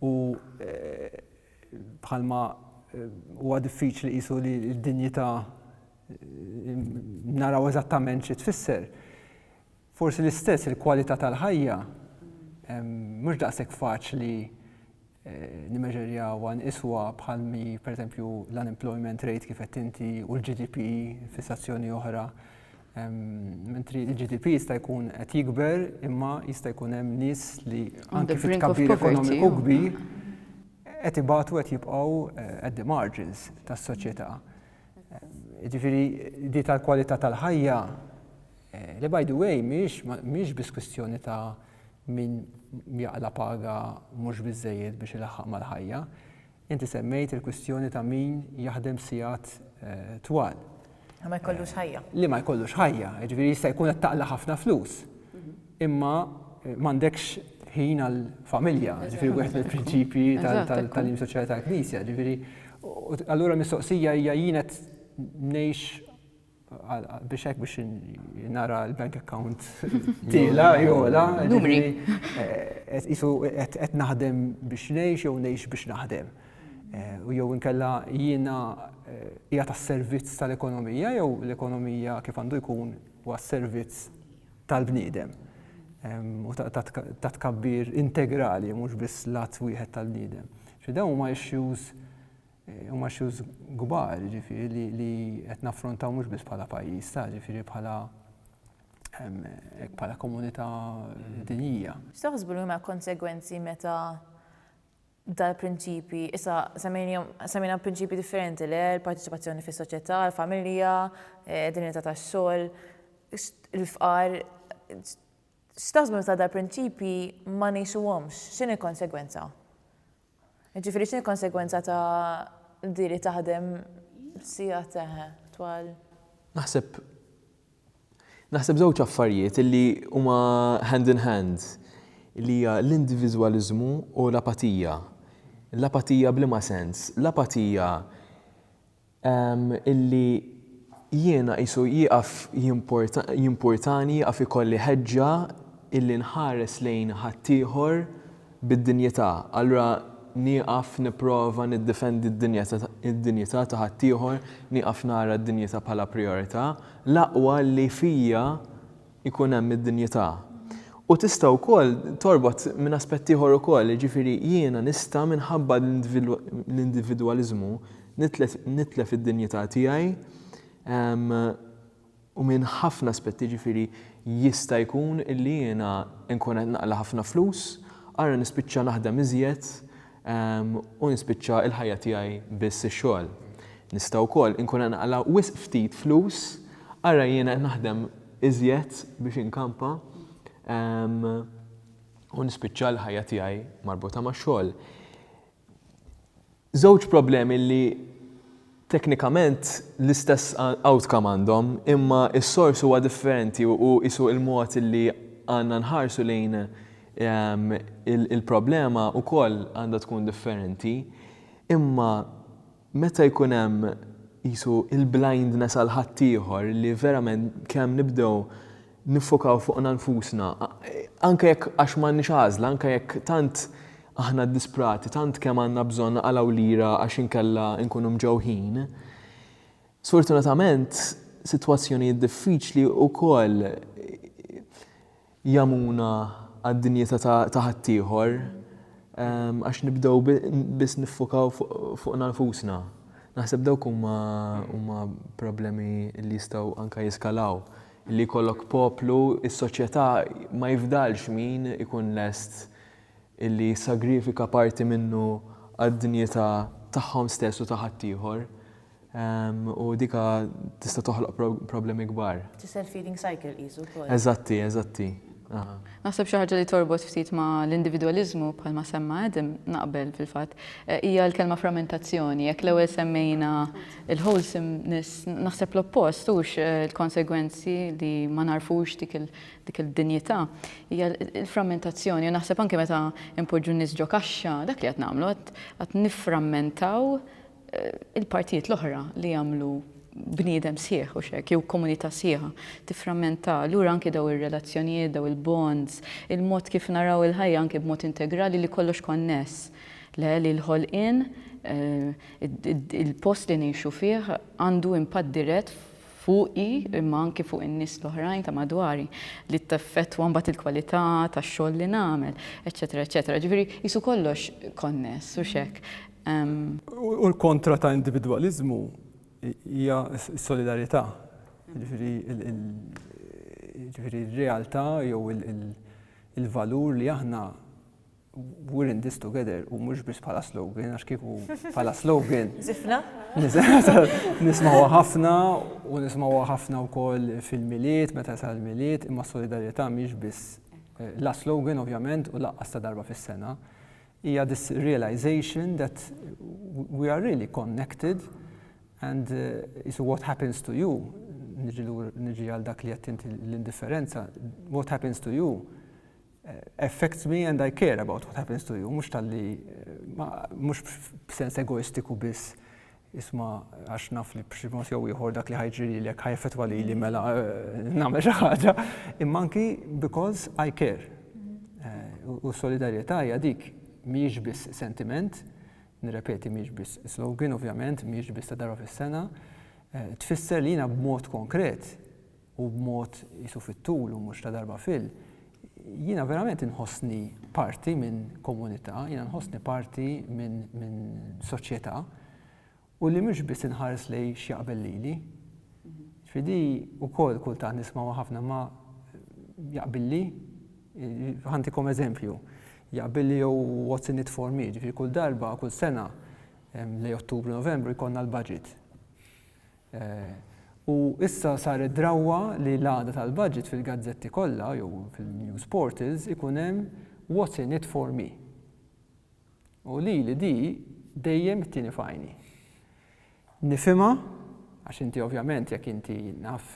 U bħalma huwa diffiċli qisu li d-dinjità naraw eżattament xi tfisser, Forsi l-istess il-kwalità tal-ħajja mhux daqshekk faċli nimeġerjawha nqisuha bħal mi pereżempju l-unemployment rate kif qed inti u l-GDP fissazzjoni oħra. Mentri l-GDP jista' jkun qed jikber imma jista' jkun hemm nies li anke fit-tkabbir ekonomiku kbir qed ibatu qed jibqgħu at the margins tas-soċjetà. Jiġifieri di tal-kwalità tal-ħajja Li by the way mhix biss kwistjoni ta' min jaqla' paga mhux biżżejjed biex ilaħħaq mal-ħajja. Inti semmejt il-kwistjoni ta' min jaħdem sigħat twal. Li ma jkollux ħajja. Li ma jkollux ħajja. Jiġifieri jista' jkun qed taqla' ħafna flus, imma m'għandekx ħin għall-familja. Jiġifieri wieħed mill-prinċipji tal-tagħlim soċjali tal-Knisja. Jiġifieri allura l-mistoqsija hija jien qed ngħix biex hekk biex nara l-bank account tila jola. Numri. Eh, qed naħdem biex ngħix jew ngħix biex naħdem. Eh, u jew inkella jiena eh, hija tas-servizz tal-ekonomija jew l-ekonomija kif għandu jkun huwa servizz tal-bniedem u ta' tkabbir integrali mhux biss lat wieħed tal-bniedem. Xi dawn huma issues Huma issues kbar, jiġifieri, li qed naffrontaw mhux biss bħala pajjiż, ta' jiġifieri bħala hekk bħala komunità dinjija. X'taħsbu li huma l-konsegwenzi meta dal-prinċipji, issa semmejnihom, semmejna prinċipji differenti le, l-parteċipazzjoni fis-soċjetà, l-familja, id-dinjità tax-xogħol, il-fqar, X'taħsbu meta dal-prinċipji ma ngħixuhomx? X'inhi l-konsegwenza? Jiġifieri x'inhi l-konsegwenza ta' di li taħdem sigħat eħe twal? Naħseb naħseb żewġ affarijiet illi huma hand in hand li hija l-indiviżwaliżmu u l-apatija. L-apatija b'liema sens? L-apatija illi jiena qisu jieqaf jimpurtani, jieqaf ikolli ħeġġa illi nħares lejn ħaddieħor bid-dinjità, allura nieqaf nipprova niddefendi d-dinjità ta' ħaddieħor, nieqaf nara d-dinjità bħala prijorità, l-aqwa li fija ikun hemm id-dinjità. U tista' wkoll torbot minn aspett ieħor ukoll, jiġifieri jiena nista' minħabba l-individwaliżmu nitlef id-dinjità tiegħi u minn ħafna aspetti, jiġifieri jista' jkun illi jiena nkun qed naqla' ħafna flus, ara nispiċċa naħdem iżjed, u nispiċċa l-ħajja tiegħi biss ix-xogħol. Nista' wkoll inkun qed naqla' wisq ftit flus, ara jiena qed naħdem iżjed biex inkampa u nispiċċa l-ħajja tiegħi marbuta max-xogħol. Żewġ problemi li Teknikament l-istess outcome għandhom, imma s-sors huwa differenti u qisu l-mod li għandna nħarsu lejn il-problema wkoll għandha tkun differenti. Imma meta jkun hemm qisu l-blindness għal ħaddieħor li verament kemm nibdew niffokaw fuqna nfusna, anke jekk għax m'għandniex għażla, anke jekk tant aħna ddisprati, tant kemm għandna bżonn naqalgħu lira għax inkella nkunu mġewħin. Sfortunatament, sitwazzjonijiet diffiċli wkoll jagħmuna għad-dinjità ta' ħaddieħor għax nibdew biss niffokaw fuqna nfusna. Naħseb dawk huma problemi li jistgħu anke jiskalaw. li jkollok poplu, is-soċjetà ma jifdalx min ikun lest li jissagrifika parti minnu għad-dinjità tagħhom stess u ta' ħaddieħor. U dik tista' toħloq problemi kbar. It's a self-feeding cycle qisu wkoll. Eżatti, eżatti. Naħseb xi ħaġa li torbot ftit ma' l-individwaliżmu, bħalma semma Adam, naqbel fil-fatt, hija l-kelma frammentazzjoni. Jekk l-ewwel semmejna l-wholesomeness, naħseb l-oppost hux l-konsegwenzi li ma nagħrfux dik id-dinjità, hija l-frammentazzjoni. U naħseb anke meta npoġġu n-nies ġo kaxxa, dak li qed nagħmlu, qed nifframmentaw il-partijiet l-oħra li jagħmlu bniedem sħiħ u xek, jew komunità sħiħa, tifframmenta, lura anki daw ir-relazzjonijiet, daw il-bonds, il-mod kif naraw il-ħajja anki b'mod integrali li kollox konness. Le li l-ħolqien, eh, il-post li ngħixu fih għandu impatt dirett fuqi imma anki fuq in-nies l-oħrajn ta' madwari li teffettwa mbagħad il-kwalità tax-xogħol li nagħmel, eċetera, eċetera. Ġifieri jisu kollox konness u xek. U l-kontra ta' individwaliżmu hija s-solidarjetà. Jiġifieri jiġifieri r-realtà jew il-valur li aħna we're in this together u mhux biss bħala slogan għax kieku bħala slogan. Żifna. Nismgħuha ħafna u nismgħuha ħafna wkoll fil-Milied meta jasal il-Milied imma s-solidarjetà mhix biss la slogan ovvjament u laqqas ta' darba fis-sena. Hija this realization that we are really connected and qisu what happens to you, niġi lur, niġi għal dak li qed inti l-indifferenza, what happens to you affects me and I care about what happens to you, mhux talli mhux b'sens egoistiku biss Isma' għax naf li b'xi mod jew ieħor dak li ħa jiġri lilek ħa jeffettwa lili mela nagħmel xi ħaġa, imma anki because I care. U s-solidarjetà hija dik, mhijiex biss sentiment, nirrepeti mhijiex biss slogan ovvjament, mhijiex biss ta' darba fis-sena, tfisser li jiena b'mod konkret u b'mod qisu fit-tul u mhux ta' darba fil, jiena verament inħossni parti minn komunità, jiena nħossni parti minn soċjetà u li mhux biss inħares lejn x'jaqbel lili. Ġifieri di wkoll kultant nisma' ma' ħafna ma jaqbilli, ħantikom eżempju, jaqbilli jew what's in it for me, ġifieri kull darba, kull sena, lejn Ottubru, Novembru jkollna l-budget. U issa saret drawwa li l-għada tal-budget fil-gazzetti kollha jew fil-news portals ikun hemm What's in it for me? U lili di dejjem tieni f'għajni. Nifhimha għax inti ovvjament jekk inti naf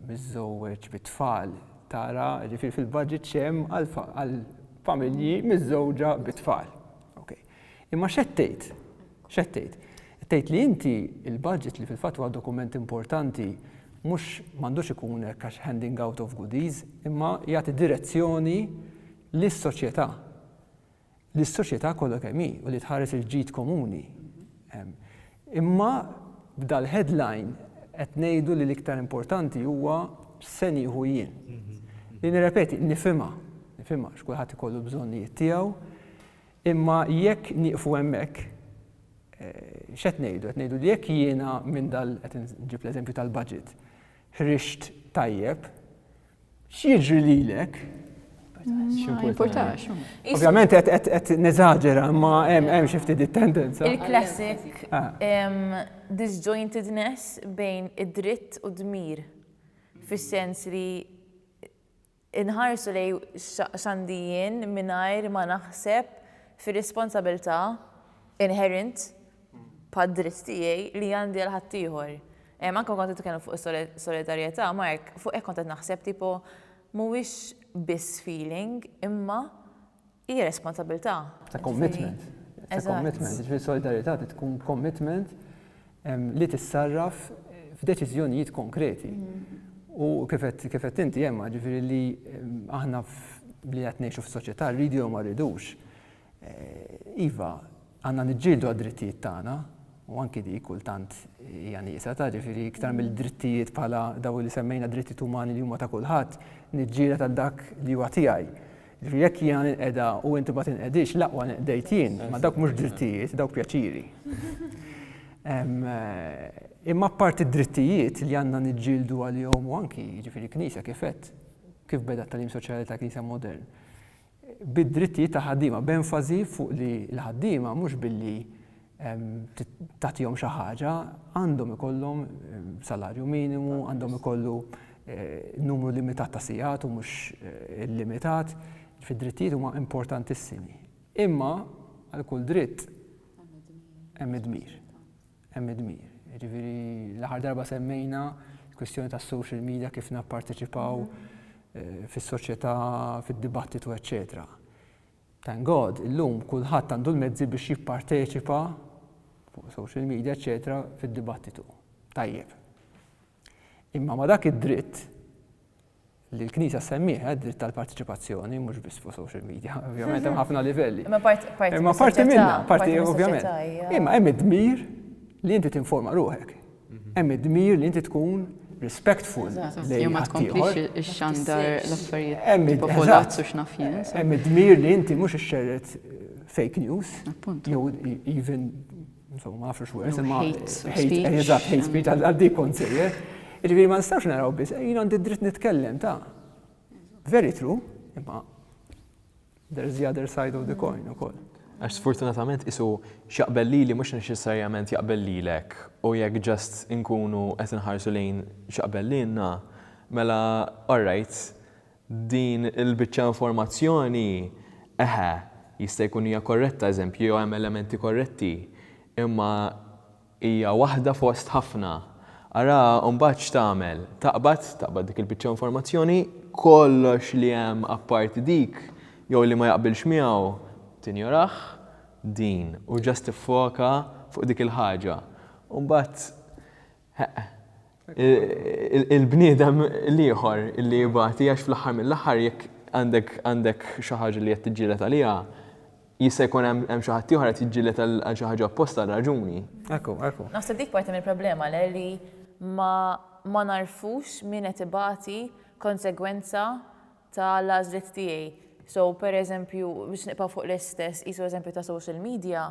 miżżewweġ bi tfal tara ġifieri fil-budget x'hemm għall-familji miżżewġa bi tfal. Okay. Imma x'qed tgħid? X'qed tgħid? Qed tgħid li inti l-budget li fil-fatt huwa dokument importanti mhux m'għandux ikun hekk għax handing out of goodies, imma jagħti direzzjoni lis-soċjetà. Lis-soċjetà kollha kemm hi u li tħares il-ġid komuni. Imma b'dal-headline qed ngħidu li l-iktar importanti huwa se nieħu jien. Li nirrepeti, nifhimha, nifhimha x'kulħadd ikollu bżonnijiet tiegħu, Imma jekk nieqfu hemmhekk, x'qed ngħidu? Qed ngħidu li jekk jiena minn dal, qed inġib l-eżempju tal-budget, ħriġt tajjeb, x'jiġri lilek? Ma jimpurtax. Ovvjament qed neżaġera, imma hemm xi ftit it-tendenza. Il-classic disjointedness bejn id-dritt u d-dmir, fis-sens li Inħarsu lejn x'għandi jien mingħajr ma naħseb fir-responsabilità inherent bħad-dritt tiegħi li għandi għal ħaddieħor. Anke kont qed titkellem fuq is-solidarjetà, Mark, fuq hekk kont qed naħseb tipo mhuwiex biss feeling imma Hija responsabilità. Ta' commitment. Ta' commitment. Ġifieri solidarjetà trid tkun commitment li tissarraf f'deċiżjonijiet konkreti. U kif qed inti Emma, ġifieri li aħna li qed ngħixu f'soċjetà rridu jew ma rridux, iva, għandna niġġieldu għad-drittijiet tagħna u anki dik kultant hija nieqsa ta' ġifieri iktar mill-drittijiet bħala dawk li semmejna drittijiet umani li huma ta' kulħadd, niġġieled għal dak li huwa tiegħi. Jiġifieri jekk jiena ninqeda u inti ma tinqedix, l-aqwa ninqdejt jien, ma dawk mhux drittijiet, dawk pjaċiri. Imma apparti d-drittijiet li għandna niġġieldu għalihom u anki jiġifieri Knisja kif għedt, kif beda t-tagħlim soċjali ta' Knisja modern, bid-drittijiet ta' ħaddiema, b'enfasi fuq li l-ħaddiema mhux billi tagħtihom xi ħaġa, għandhom ikollhom salarju minimu, għandhom ikollu numru limitat ta' sigħat u mhux illimitat, fid-drittijiet huma importantissimi. Imma għal kull dritt hemm id-dmir. Hemm id-dmir. Jiġifieri l-aħħar darba semmejna kwistjoni tas-social media kif napparteċipaw fis-soċjetà, fid-dibattitu, eċċetera. Thank God, illum kulħadd għandu l-mezzi biex jipparteċipa fuq social media eċċetera fid-dibattitu. Tajjeb. Imma ma' dak id-dritt li l-Knisja semmiħ, eh, dritt tal-partiċipazzjoni, mhux biss fuq social media, ovvjament hemm ħafna livelli. Imma parti minna, parti ovvjament. Imma hemm id-dmir li inti tinforma ruħek. Hemm id-dmir li inti tkun respectful lejn ħaddieħor. Ix-xandar l-affarijiet hemm popolazzu x'naf jien. Hemm id-dmir li inti mhux ixxerred fake news. Jew even insomma ma nafx where imma eżatt hate speech għal dik kont sejjer. Jiġifieri ma nistax naraw biss, jien għandi dritt nitkellem ta' very true, imma There's the other side of the coin ukoll. Għax sfortunatament qisu x'jaqbel lili mhux neċessarjament jaqbel lilek u jekk just inkunu qed inħarsu lejn x'jaqbel lilna, mela alright, din il-biċċa informazzjoni, eħe, jista' jkun hija korretta, eżempju, jew hemm elementi korretti, imma Hija waħda fost ħafna. Ara mbagħad x'tagħmel. Taqbad, taqbad dik il-biċċa informazzjoni, kollox li hemm apparti dik jew li ma jaqbilx miegħu tinjorah, din, u just tiffoka fuq dik il-ħaġa. U mbagħad, heq, il-bniedem l-ieħor li jibati għax fl-aħħar mill-aħħar jekk għandek xi ħaġa li qed tiġġieled għaliha, jista' jkun hemm xi ħadd ieħor qed jiġġieled għal xi ħaġa apposta għal raġuni. Ekku, ekku. Naħseb dik parti mill-problema le li ma nagħrfux min qed ibati konsegwenza tal-għażliet tiegħi. So, per eżempju, biex nibqa' fuq l-istess qisu eżempju ta' social media,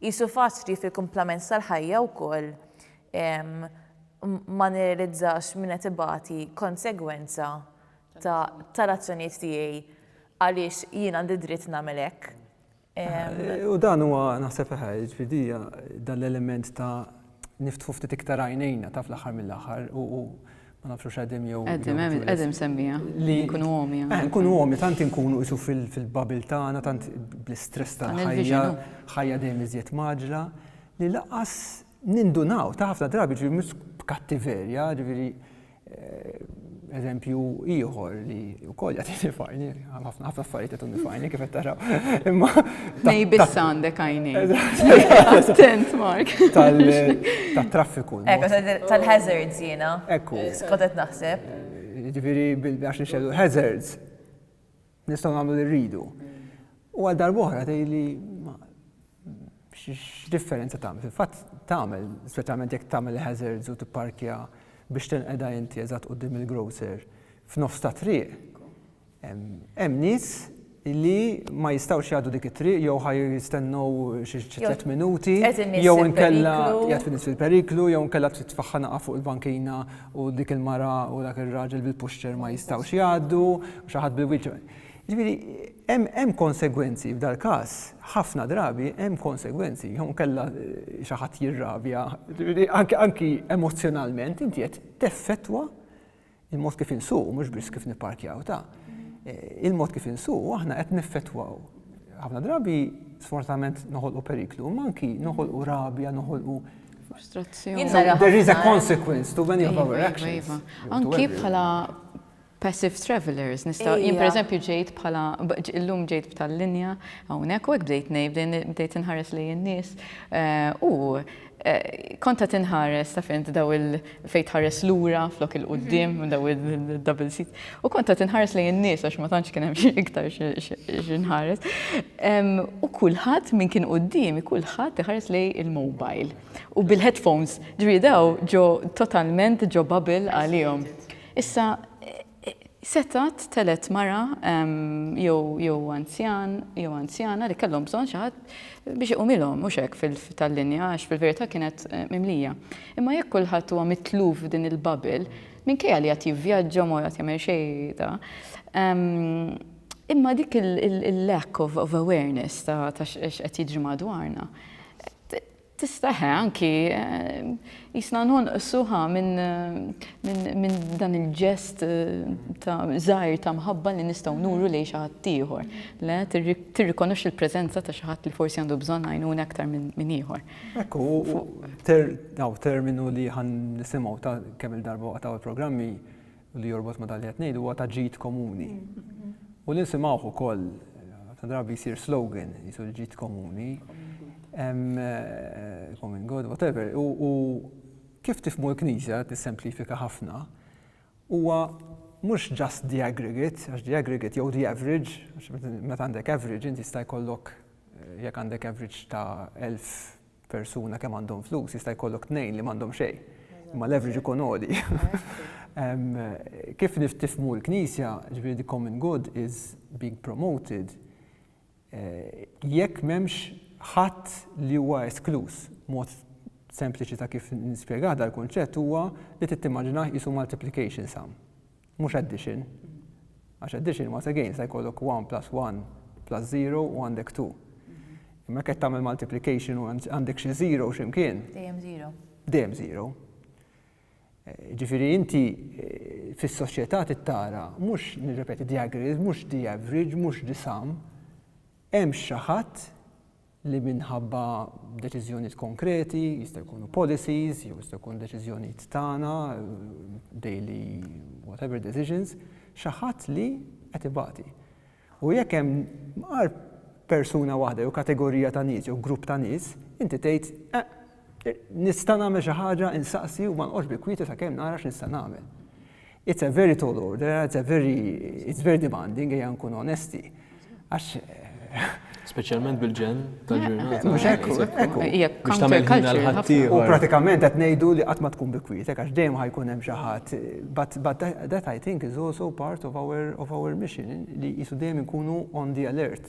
Qisu fatt li fil-kumplament tal-ħajja wkoll ma nirrealizzax min qed ibati konsegwenza tal-azzjonijiet tiegħi għaliex jien għandi dritt nagħmel hekk. U dan huwa naħseb, jiġifieri dan l-element ta' niftħu ftit iktar għajnejna ta' fl-aħħar mill-aħħar u ma nafx hux qegħdim jew. Qegħdim, qegħdim semmija. Li nkunu għomi. Eh, nkunu għomi, tant inkunu isu fil-babil tagħna, tant bl-istress tal-ħajja, ħajja dejjem iżjed maġla, li laqas nindunaw ta' ħafna drabi ġifieri mhux b'kattiverja, ġifieri Eżempju ieħor li wkoll jagħtini fajni, ħafna ħafna affarijiet jagħtuni fajni kif qed taraw. Imma nej biss għandek għajni. Attent Mark. Tal-traffiku. Ekku tal-hazards jiena. Ekku. Skotet naħseb. Ġifieri għax nixxellu hazards. Nistgħu nagħmlu li rridu. U għal darb'oħra tgħidli x'differenza tagħmel? Fil-fatt tagħmel, speċjalment jekk tagħmel hazards u tipparkja biex tinqeda inti eżatt quddiem il-grocer f'nofs ta' triq. Hemm nies li ma jistgħux jgħaddu dik it-triq jew ħaj jistennew xi tliet minuti jew inkella jgħid fil-periklu jew inkella tfaħħa naqa' fuq il-bankina u dik il-mara u dak ir-raġel bil-puxċer ma jistgħux jgħaddu, u xi ħadd bil-wheelchair. Ġifieri, hemm konsegwenzi f'dal-każ, ħafna drabi hemm konsegwenzi, jew inkella xi ħadd jirrabja, ġifieri anki emozzjonalment inti qed teffettwa il-mod kif insuqu mhux biss kif nipparkjaw ta' il-mod kif insuqu aħna qed neffettwaw. Ħafna drabi sfortunatament noħolqu periklu, ma anki noħolqu rabja, noħolqu Frustrazzjoni. There is a consequence to many of our iva, iva, actions. Iva. Anki bħala passive travelers, nista' jien per eżempju ġejt bħala illum ġejt b'tal-linja hawnhekk u hekk bdejt ngħid bdejt inħares lejn in-nies eh, u eh, konta tinħares ta' fint daw il fejn tħares lura flok il-qudiem mhm. daw il-double seat. U kont qed inħares lejn in-nies għax ma tantx kien hemm iktar x'inħares. U kulħadd min kien quddiem, kulħadd iħares lej il-mobile. U bil-headphones, ġri daw ġo totalment ġo bubble għalihom. Issa Setgħat telgħet mara jew anzjan jew anzjana li kellhom bżonn xi ħadd biex iqumilhom, mhux hekk fil-linja għax fil-verità kienet mimlija. Imma jekk kulħadd huwa mitluf f'din il-bubble, minkejja li jgħad jivvjaġġa ma jgħad jagħmel xejn ta', imma dik il-lack of awareness ta' x'qed jiġri madwarna, Tista' eħe anki qisna nonqsu ħa minn dan il-ġest ta' żgħir ta' mħabba li nistgħu nuru lejn xi ħadd ieħor. Le, tirrikonoxxi l-preżenza ta' xi ħadd li forsi għandu bżonn għajnuna aktar minn ieħor. Hekk hu, hawn terminu li ħa nisimgħu ta' kemm-il darba waqt hawn il-programmi, u li jorbot ma' dan li qed ngħidu huwa ta' ġid komuni. U li nsimgħuh ukoll ta' drabi jsir slogan jisu l-ġid komuni, eh, common good, whatever, u kif tifmu l-Knisja tissemplifika ħafna, huwa mhux just the aggregate, għax the aggregate jew the average, għax meta għandek average inti jista' jkollok eh, jekk għandek average ta' 1000 persuna kemm għandhom flus, jista' jkollok tnejn li m'għandhom xejn. Imma l-average ikun għodi. Kif niftifmu l-Knisja, ġifieri the common good is being promoted, eh, jekk m'hemmx ħadd li huwa esklus. Mod sempliċi ta' kif nispjega dal-kunċett huwa li tittimmaġinah jisu multiplication sum. Mhux addition, għax addition once again jista' jkollok one plus one plus zero u għandek two. Imma jekk qed tagħmel multiplication u għandek xi zero x'imkien. Dejjem zero. Dejjem zero. Eh, ġifieri inti eh, fis-soċjetà tittara mhux nirrepeti the aggregate, mhux the average, mhux the sum, hemm xi ħadd li minħabba deċiżjonijiet konkreti, jista' jkunu policies, jew jista' jkun deċiżjonijiet tagħna, daily whatever decisions, xi ħadd li qed ibati. U jekk hemm għar persuna waħda jew kategorija ta' nies jew grupp ta' nies, inti tgħid, eh, Nista' nagħmel xi ħaġa, insaqsi u ma nqgħodx bil-kwieti sakemm nara x'nista' nagħmel. It's a very tall order, it's a very, it's very demanding, ejja nkun onesti. Għax. Speċjalment bil-ġen tal-ġurnata. Mhux ekku, ekku. Biex tagħmel ħina l-ħaddieħor. U pratikament qed ngħidu li qatt ma tkun bi kwietek għax dejjem ħajkun hemm xi ħadd. But that I think is also part of our, of our mission li qisu dejjem inkunu on the alert.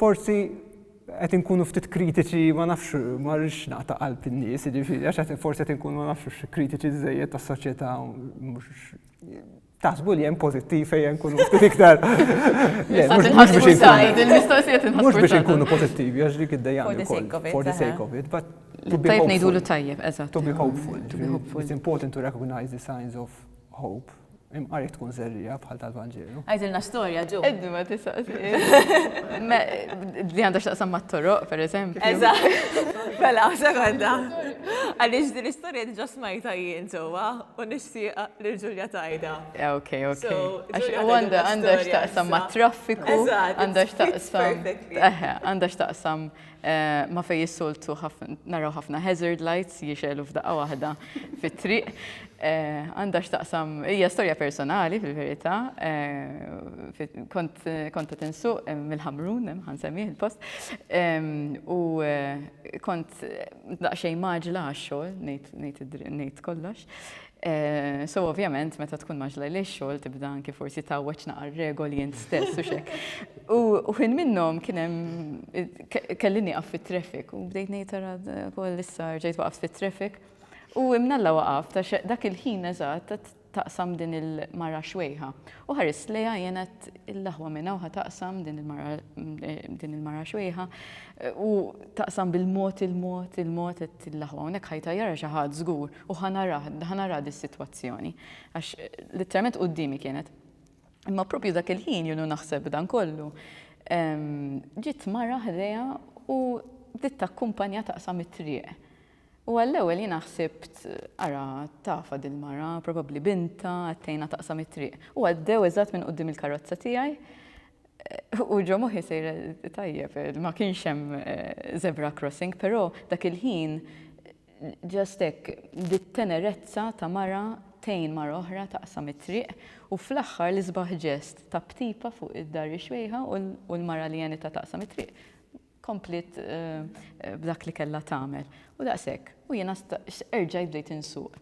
Forsi qed inkunu ftit kritiċi ma nafx ma rridx naqta' qalb in-nies, jiġifieri għax qed forsi qed inkunu ma nafx kritiċi żejjed tas-soċjetà taħsbu li hemm pożittiv fejn nkunu ftit iktar. Mhux biex inkunu pożittivi għax dik id-dejja for the sake of it, but to be hopeful. Tajjeb, eżatt. To be hopeful. It's important to recognize the signs of hope. Imqar jekk tkun serrija bħal tal-Vanġelu. Għajdilna storja ġu. Eddi ma tisaqsi. Li għandha x'taqsam mat-toroq, per eżempju. Eżatt. Mela, sekonda. Għaliex din l-istorja diġà smajta jien ġewwa u nixtieq lil Ġulja tajda. Ok, ok. Għandha x'taqsam mat-traffiku, għandha x'taqsam. Għandha x'taqsam ma' fejn is-soltu naraw ħafna hazard lights jixegħlu f'daqqa waħda fit-triq. Eh, għandha x'taqsam, hija storja personali fil-verità, eh, kont qed insuq eh, mill-Ħamrun, ħansemmih il-post, ehm, u kont daqsxejn maġla għax-xogħol, ngħid kollox. So ovvjament meta tkun maġla li x-xogħol tibda anki forsi tawweġ naqar regoli int stess u xek. U ħin minnhom kien hemm kelli nieqaf fit-traffic u bdejt ngħid tara wkoll issa rġajt waqaft fit-traffic. U imnalla waqaf ta' dak il-ħin eżatt taqsam din il-mara xwejħa. U ħarist lejha jiena l-aħwa minn hawn taqsam din il-mara din il-mara xwejħa u taqsam bil-mod il-mod il-mod qed l-aħwa hawnhekk ħajtajjarha xi ħadd żgur. U ħa narah, ħa narah dis-sitwazzjoni. Għax litteralment quddiemi kienet. Imma proprju dak il-ħin jien u naħseb b'dan kollu, ġiet mara ħdejha u bdiet takkumpanja taqsam it-triq. U għall-ewwel jiena ħsibt, ara, tafha dil-mara, probabbli bintha, qed tgħinha taqsam it-triq. U għaddew eżatt minn quddiem il-karozza tiegħi u ġo moħħi sejra, tajjeb, ma kienx hemm zebra crossing, però dak il-ħin, Just hekk, dit-tenerezza ta' mara tgħin mara oħra taqsam it-triq u fl-aħħar l-isbaħ ġest ta' b'tipa fuq id-dar ix-xwejħa u l-mara li għenitha taqsam it-triq kompliet b'dak li kellha tagħmel. U daqshekk. U jiena erġajt bdejt insuq.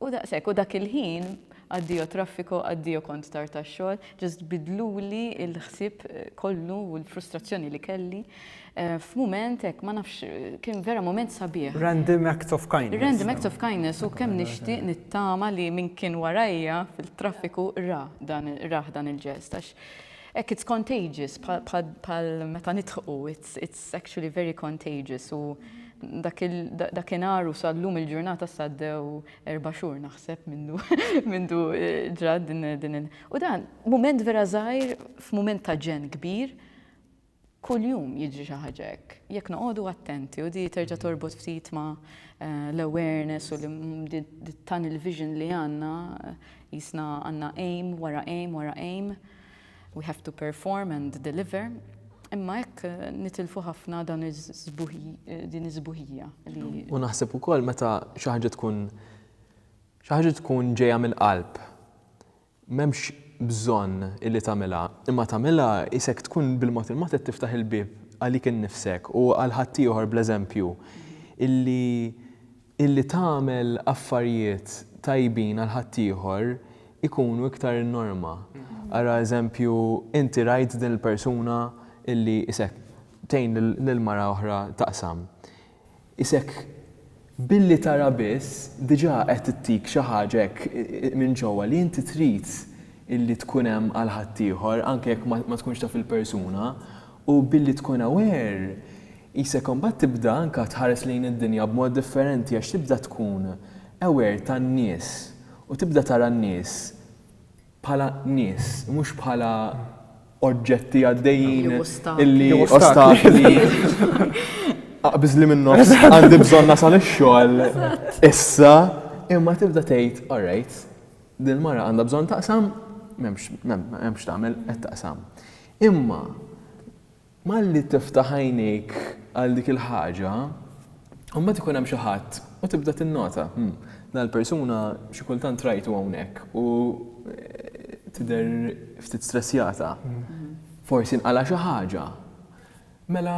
U daqshekk, u dak il-ħin, addio traffico, addio kont tard għax-xogħol, just biddluli l-ħsieb kollu u l-frustrazzjoni li kelli f'mument hekk, ma nafx, kien vera mument sabiħ. Random acts of kindness. Random acts of kindness u kemm nixtieq nittama li min kien warajja fil-traffiku ra dan, rah dan il-ġest għax hekk it's contagious bħal meta nidħqu It's actually very contagious u dakinhar u sal-lum il-ġurnata saddew erba' xhur naħseb mindu mindu eh, ġrat din din il. U dan mument vera żgħir f'mument ta' ġen kbir kuljum jiġri xi ħaġa hekk. Jekk noqogħdu attenti u di terġa' torbot ftit ma' eh, l-awareness u tan il-vision li għandna eh, jisna għandna aim wara aim wara aim. We have to perform and deliver. Imma hekk nitilfu ħafna dan din iż-żbuħija. U naħseb ukoll meta xi ħaġa tkun xi ħaġa tkun ġejja mill-qalb. M'hemmx bżonn illi tagħmilha, imma tagħmilha isek tkun bil-mod il-mod qed tiftaħ il-bieb għalik innifsek u għal ħaddieħor bl-eżempju illi Illi tagħmel affarijiet tajbin għal ħaddieħor ikunu iktar in-norma. Ara eżempju, inti rajt din il-persuna illi isek tgħin lil mara oħra taqsam. Isek billi tara biss diġà qed ittik xi ħaġa hekk minn ġewwa li inti trid illi tkun hemm għal ħaddieħor anke jekk ma tkunx taf il-persuna u billi tkun aware Qisek imbagħad tibda anke tħares lejn id-dinja b'mod differenti għax tibda tkun aware tan-nies u tibda tara n-nies bħala nies mhux bħala oġġetti għaddejjin li ostakli aqbiżli min-nofs għandi bżonn nasal ix-xogħol issa imma tibda tgħid alright din il-mara għandha bżonn taqsam m'hemmx m'hemm x'tagħmel qed taqsam. Imma Malli tiftaħ għajnejk għal dik il-ħaġa, imbagħad ikun hemm xi ħadd u tibda tinnota, 'Hm, dan il-persuna xi kultant rajtu hawnhekk u tidher ftit stressjata. Forsi nqala' xi ħaġa. Mela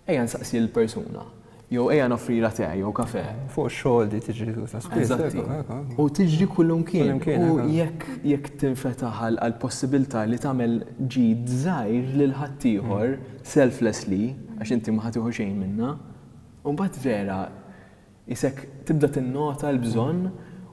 ejja nsaqsi lill-persuna. Jew ejja noffrilha te jew kafe. Fuq ix-xogħol di tiġri ta' spiss. Eżatt. U tiġri kullimkien. U jekk jekk tinfetaħ għall-possibilità li tagħmel ġid żgħir lil ħaddieħor selflessly, għax inti ma ħa tieħu xejn minnha, u mbagħad vera qisek tibda tinnota l-bżonn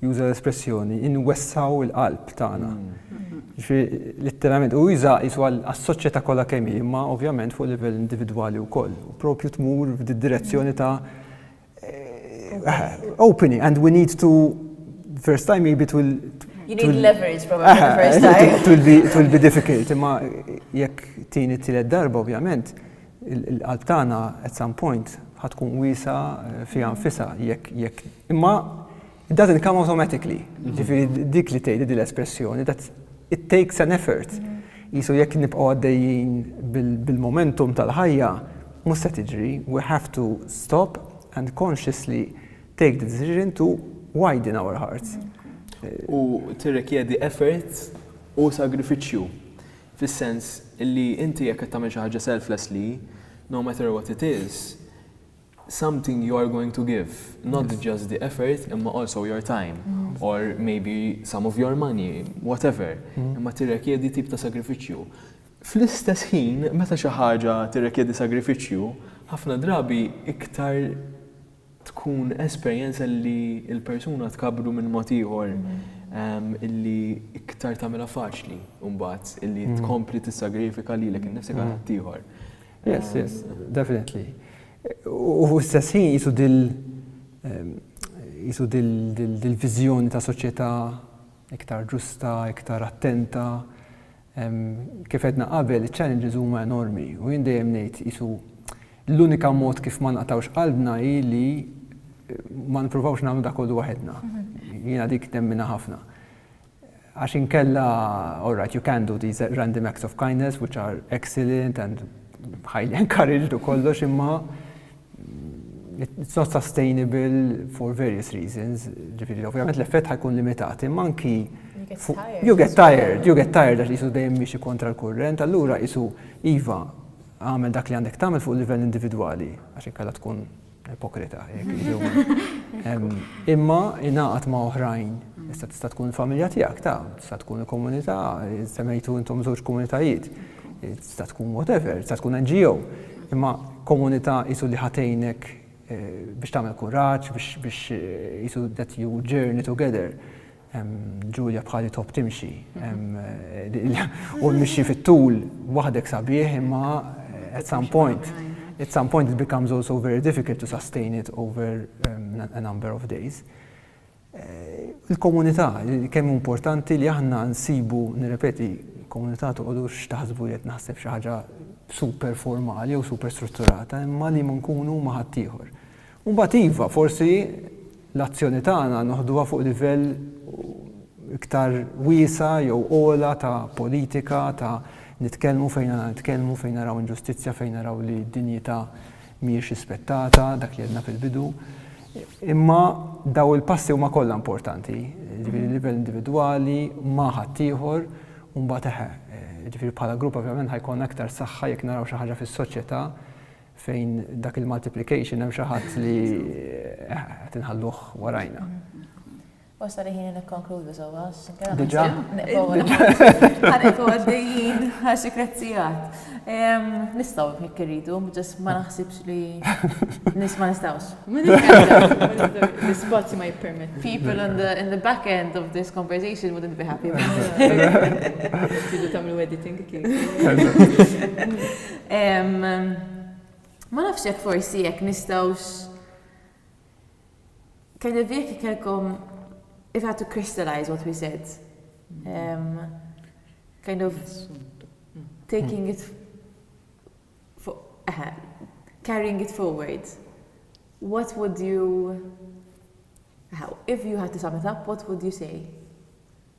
juża l-espressjoni inwessgħu l-qalb tagħna. Jiġifieri litteralment u juża jisu għas-soċjetà kollha kemm hi, imma ovvjament fuq livell individwali wkoll. U propju tmur f'did-direzzjoni ta' opening and we need to first time maybe to You need leverage probably the first time. It will be difficult, imma jekk tieni tielet darba ovvjament il-qalb tagħna at some point ħatkun wiesa' fiha nfisha jekk Imma it doesn't come automatically. Ġifieri dik li tgħidli din l-espressjoni that it takes an effort. Qisu jekk nibqgħu għaddejjin bil-momentum tal-ħajja mhux se tiġri, we have to stop and consciously take the decision to widen our hearts. U tirrikjedi effort u sagrifiċċju fis-sens li inti jekk qed tagħmel xi ħaġa selflessly, no matter what it is, something you are going to give, not just the effort imma also your time or maybe some of your money, whatever, imma tirrekjedi tip ta' sagrifiċċju. Fl-istess ħin, meta xi ħaġa tirrekjedi sagrifiċċju, ħafna drabi iktar tkun esperjenza li l-persuna tkabbru minn mod ieħor illi iktar tagħmilha faċli mbagħad illi tkompli tissagrifika lilek innifsek għal ħaddieħor. Yes, yes, definitely. U fl-istess ħin jisu dil jisu dil-viżjoni ta' soċjetà iktar ġusta, iktar attenta. Kif edna qabel, challenges huma enormi u jien dejjem ngħid jisu l-unika mod kif ma naqtawx qalbna hi li ma nippruvawx nagħmlu dak kollu waħedna. Mhm. Jiena dik temmina ħafna. Għax inkella, all right, you can do these random acts of kindness, which are excellent and highly encouraged u kollox, imma it's not sustainable for various reasons. Ġifiri, ovvijament l-effett ħajkun limitat, imma anki you get tired, you get tired għax jisu dejjem miexi kontra l-kurrent, allura jisu Iva, għamel dak li għandek tagħmel fuq livell individwali, għax inkella tkun Ipokrita, imma ingħaqad ma' oħrajn, issa tista' tkun il-familja tiegħek, ta' tista' tkun il-komunità, semmejtu intom żewġ komunitajiet, tista' tkun whatever, tista' tkun NGO, imma komunità isu li ħatejnek eh, biex tagħmel kuraġġ, biex isu that you journey together. Ġulja bħali top timxi. U mixi fit-tul waħdek sabiħ imma at some point. At some point it becomes also very difficult to sustain it over a number of days. Eh, il-komunità, kemm importanti li aħna nsibu, nirrepeti, komunità toqgħodu x'taħsbu li qed naħseb xi ħaġa super formali jew super strutturata, imma li ma nkunu ma' ħaddieħor. U mbagħad iva, forsi l-azzjoni tagħna noħduha fuq livell iktar wiesa' jew ogħla ta' politika, ta' nitkellmu fejn għandna nitkellmu, fejn naraw inġustizzja, fejn naraw li d-dinjità mhijiex rispettata, dak li għedna fil-bidu. Imma daw il-passi huma kollha importanti, ġifieri livell individwali ma' ħaddieħor u mbagħad eħe, ġifieri bħala grupp ovvjament ħajkun aktar saħħa jekk naraw xi ħaġa fis-soċjetà fejn dak il-multiplication hemm xi ħadd li qed inħalluh warajna. Wasa li ħin nikkonkludu sewwa. Diġà. Ħadet għaddejjin għax ikrezzijat. Nistgħu jekk irridu, ġest ma naħsibx li nis ma nistgħux. L-ispazju ma jippermet. People in the, in the back end of this conversation wouldn't be happy. Tidu tagħmlu editing kif. Ma nafx jekk forsi jekk nistgħux kind of jekk ikelkom if I had to crystallize what we said. Um, kind of taking it for, uh, carrying it forward. What would you how if you had to sum it up, what would you say?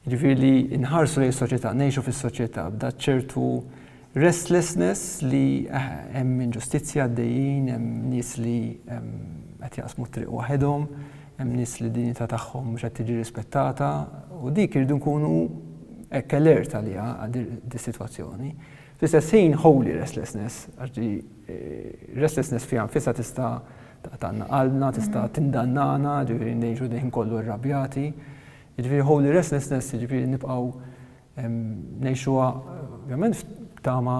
Jiġifieri li nħarsu lejn is-soċjetà, ngħixu fis-soċjetà b'da ċertu restlessness li hemm inġustizzja għaddejjin, hemm nies li qed jaqsmu t-triq waħedhom, hemm nies li d-dinjità tagħhom mhux qed tiġi rispettata u dik irridu nkunu hekk alert għaliha dis-sitwazzjoni. Fl-istess ħin holy restlessness għax di restlessness fiha nfisha tista' taqtagħna qalbna, tista' tindannana, ġifieri ngħixu dejjem kollu rrabjati. Ġifieri holy restlessness, ġifieri nibqgħu ngħixuha ovvjament f'tama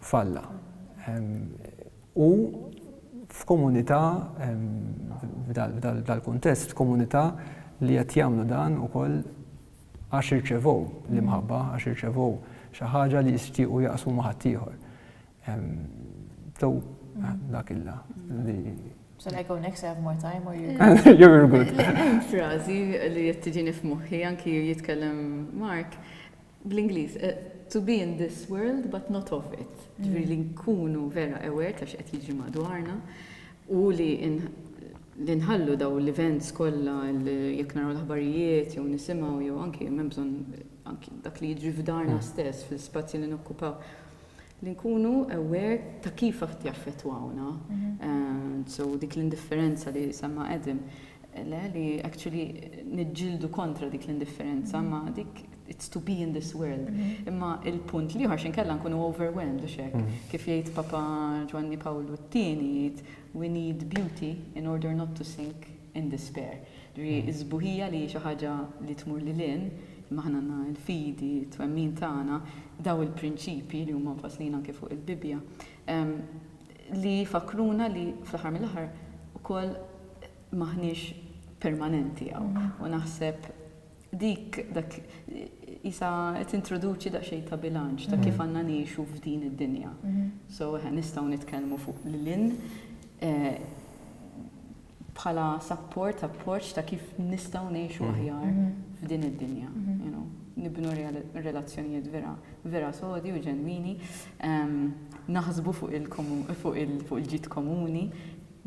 falla. U f'komunità f'dal-kuntest, f'komunità li qed jagħmlu dan ukoll għax irċevew l-imħabba, għax irċevew xi ħaġa li jixtiequ jaqsmu ma' ħaddieħor. Though, dak illa li. So I go next, I have more time, or you go. You're good. Frazi li jittiġini f'muħi, anki jitkellem Mark, bl-Inglis, eh, to be in this world but not of it. Mm. Ġviri li nkunu vera aware ta' x'qed jiġi madwarna u li li nħallu daw l-events kollha jekk naraw l-aħbarijiet jew nisimgħu jew anki hemm bżonn anki dak li jiġri f'darna mm. stess fil-spazji li nokkupaw li nkunu aware ta' kif qed jaffettwawna, so dik l-indifferenza li semma Adam, le li actually niġġieldu kontra dik l-indifferenza ma dik it's to be in this world. Imma il-punt liħor xinkella nkunu overwhelmed u xek. Kif jgħid Papa Ġwanni Pawlu t-tieni jgħid we need beauty in order not to sink. in despair. Ġifieri s-sbuħija li hi xi ħaġa li tmur lil hinn, imma aħna għandna l-fidi, t-twemmin tagħna, dawn il-prinċipji li huma mfasslin anke fuq il-Bibbja, li jfakkruna li fl-aħħar mill-aħħar ukoll m'aħniex permanenti hawn. U naħseb dik, dak, qisha qed tintroduċi daqsxejn ta' bilanċ ta' kif għandna ngħixu f'din id-dinja. So, eħe, nistgħu nitkellmu fuq lil hinn, bħala support, appoġġ ta' kif nistgħu ngħixu aħjar f'din id-dinja, you know, nibnu relazzjonijiet vera, vera sodi u ġenwini, naħsbu fuq il-ġid komuni,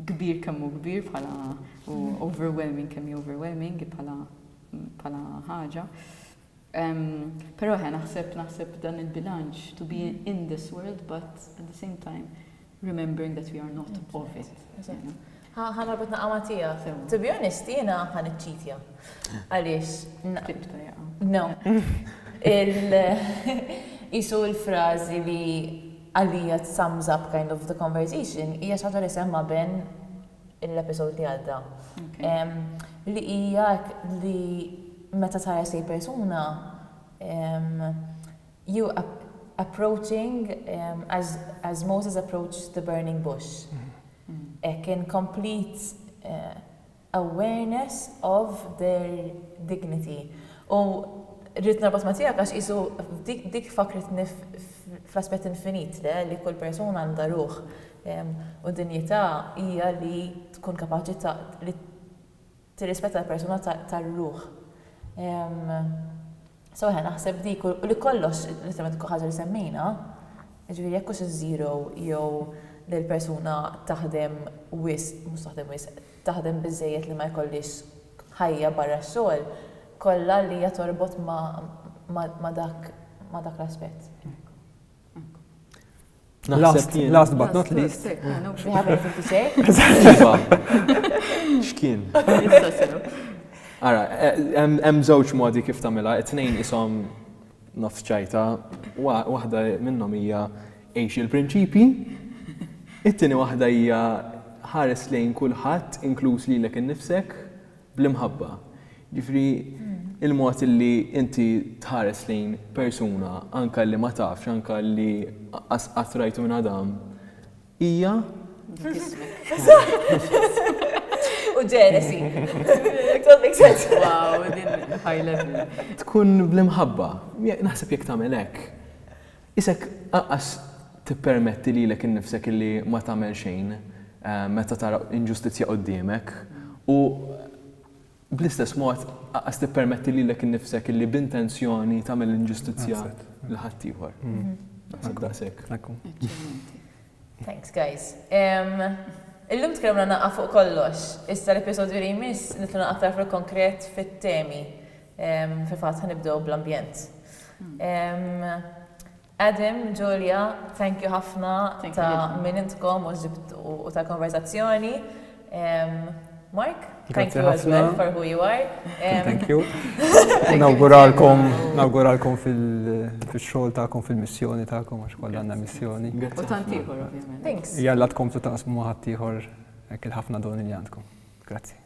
kbir kemm hu kbir bħala u overwhelming kemm hi overwhelming bħala ħaġa. Però eħe naħseb naħseb dan il-bilanċ to be in this world but at the same time remembering that we are not of it. Ħana bit naqama tija. To be honest, jena ħan iċċitja. Għalix. Naqtibta jaqa. No. Isu il-frazi li għalija t-sums up kind of the conversation, hija xaġa li semma ben l-episode li għadda. Li hija li meta tara xi persuna you approaching as as Moses approached the burning bush. Hekk in complete awareness of their dignity. U rrid norbot ma' tiegħek għax qisu dik fakkritni fl-aspett infinit le li kull persuna għandha ruħ U d-dinjità hija li tkun kapaċi ta' li tirrispetta l-persuna tar-ruħ. So eħe naħseb dik u li kollox l-estremament tkun ħaġa li semmejna, jiġifieri jekk hux iż-żero jew li l-persuna taħdem wisq, mhux taħdem wisq, taħdem biżżejjed li ma jkollhiex ħajja barra x-xogħol, kollha li hija torbot ma' dak ma' dak l-aspett. Hekk hu. Hekk hu. Last, last but not least. Iva. X'kien? Ara, eh, hemm żewġ modi kif tagħmilha, it-tnejn ishom nofs ċajta, waħda minnhom hija għex il-prinċipi, it-tieni waħda hija ħares lejn kulħadd, inkluż lilek innifsek, bl-imħabba. Jiġifieri il-mod illi inti tħares lejn persuna anke li ma tafx, anke li qas qatt rajtu minn Adam, hija. U ġenesi. Tkun bl-imħabba. Naħseb jekk tagħmel hekk, Qisek anqas tippermetti lilek innifsek illi ma tagħmel xejn meta tara inġustizzja quddiemek, u bl-istess mod anqas tippermetti lilek innifsek illi b'intenzjoni tagħmel inġustizzja lil ħaddieħor. Naħseb daqshekk. Eċċellenti. Thanks guys. Illum tkellimna naqqa' fuq kollox. Issa l-episodju li jmiss nidħlu naqqa' aktar fil-konkret fit-temi. Fil-fatt ħa nibdew bl-ambjent. Adam, Julia, thank you ħafna ta' min intkom u ta' konverzazzjoni. Mark, thank you as well for who you are. Thank you. Nawguralkom fil-xogħol tagħkom, fil-missjoni tagħkom, għax kollha għandna missjoni. U tant ieħor, ovvjament. Thanks. Jalla tkomplu taqsmu ma' ħaddieħor hekk il-ħafna doni li għandkom. Grazzi.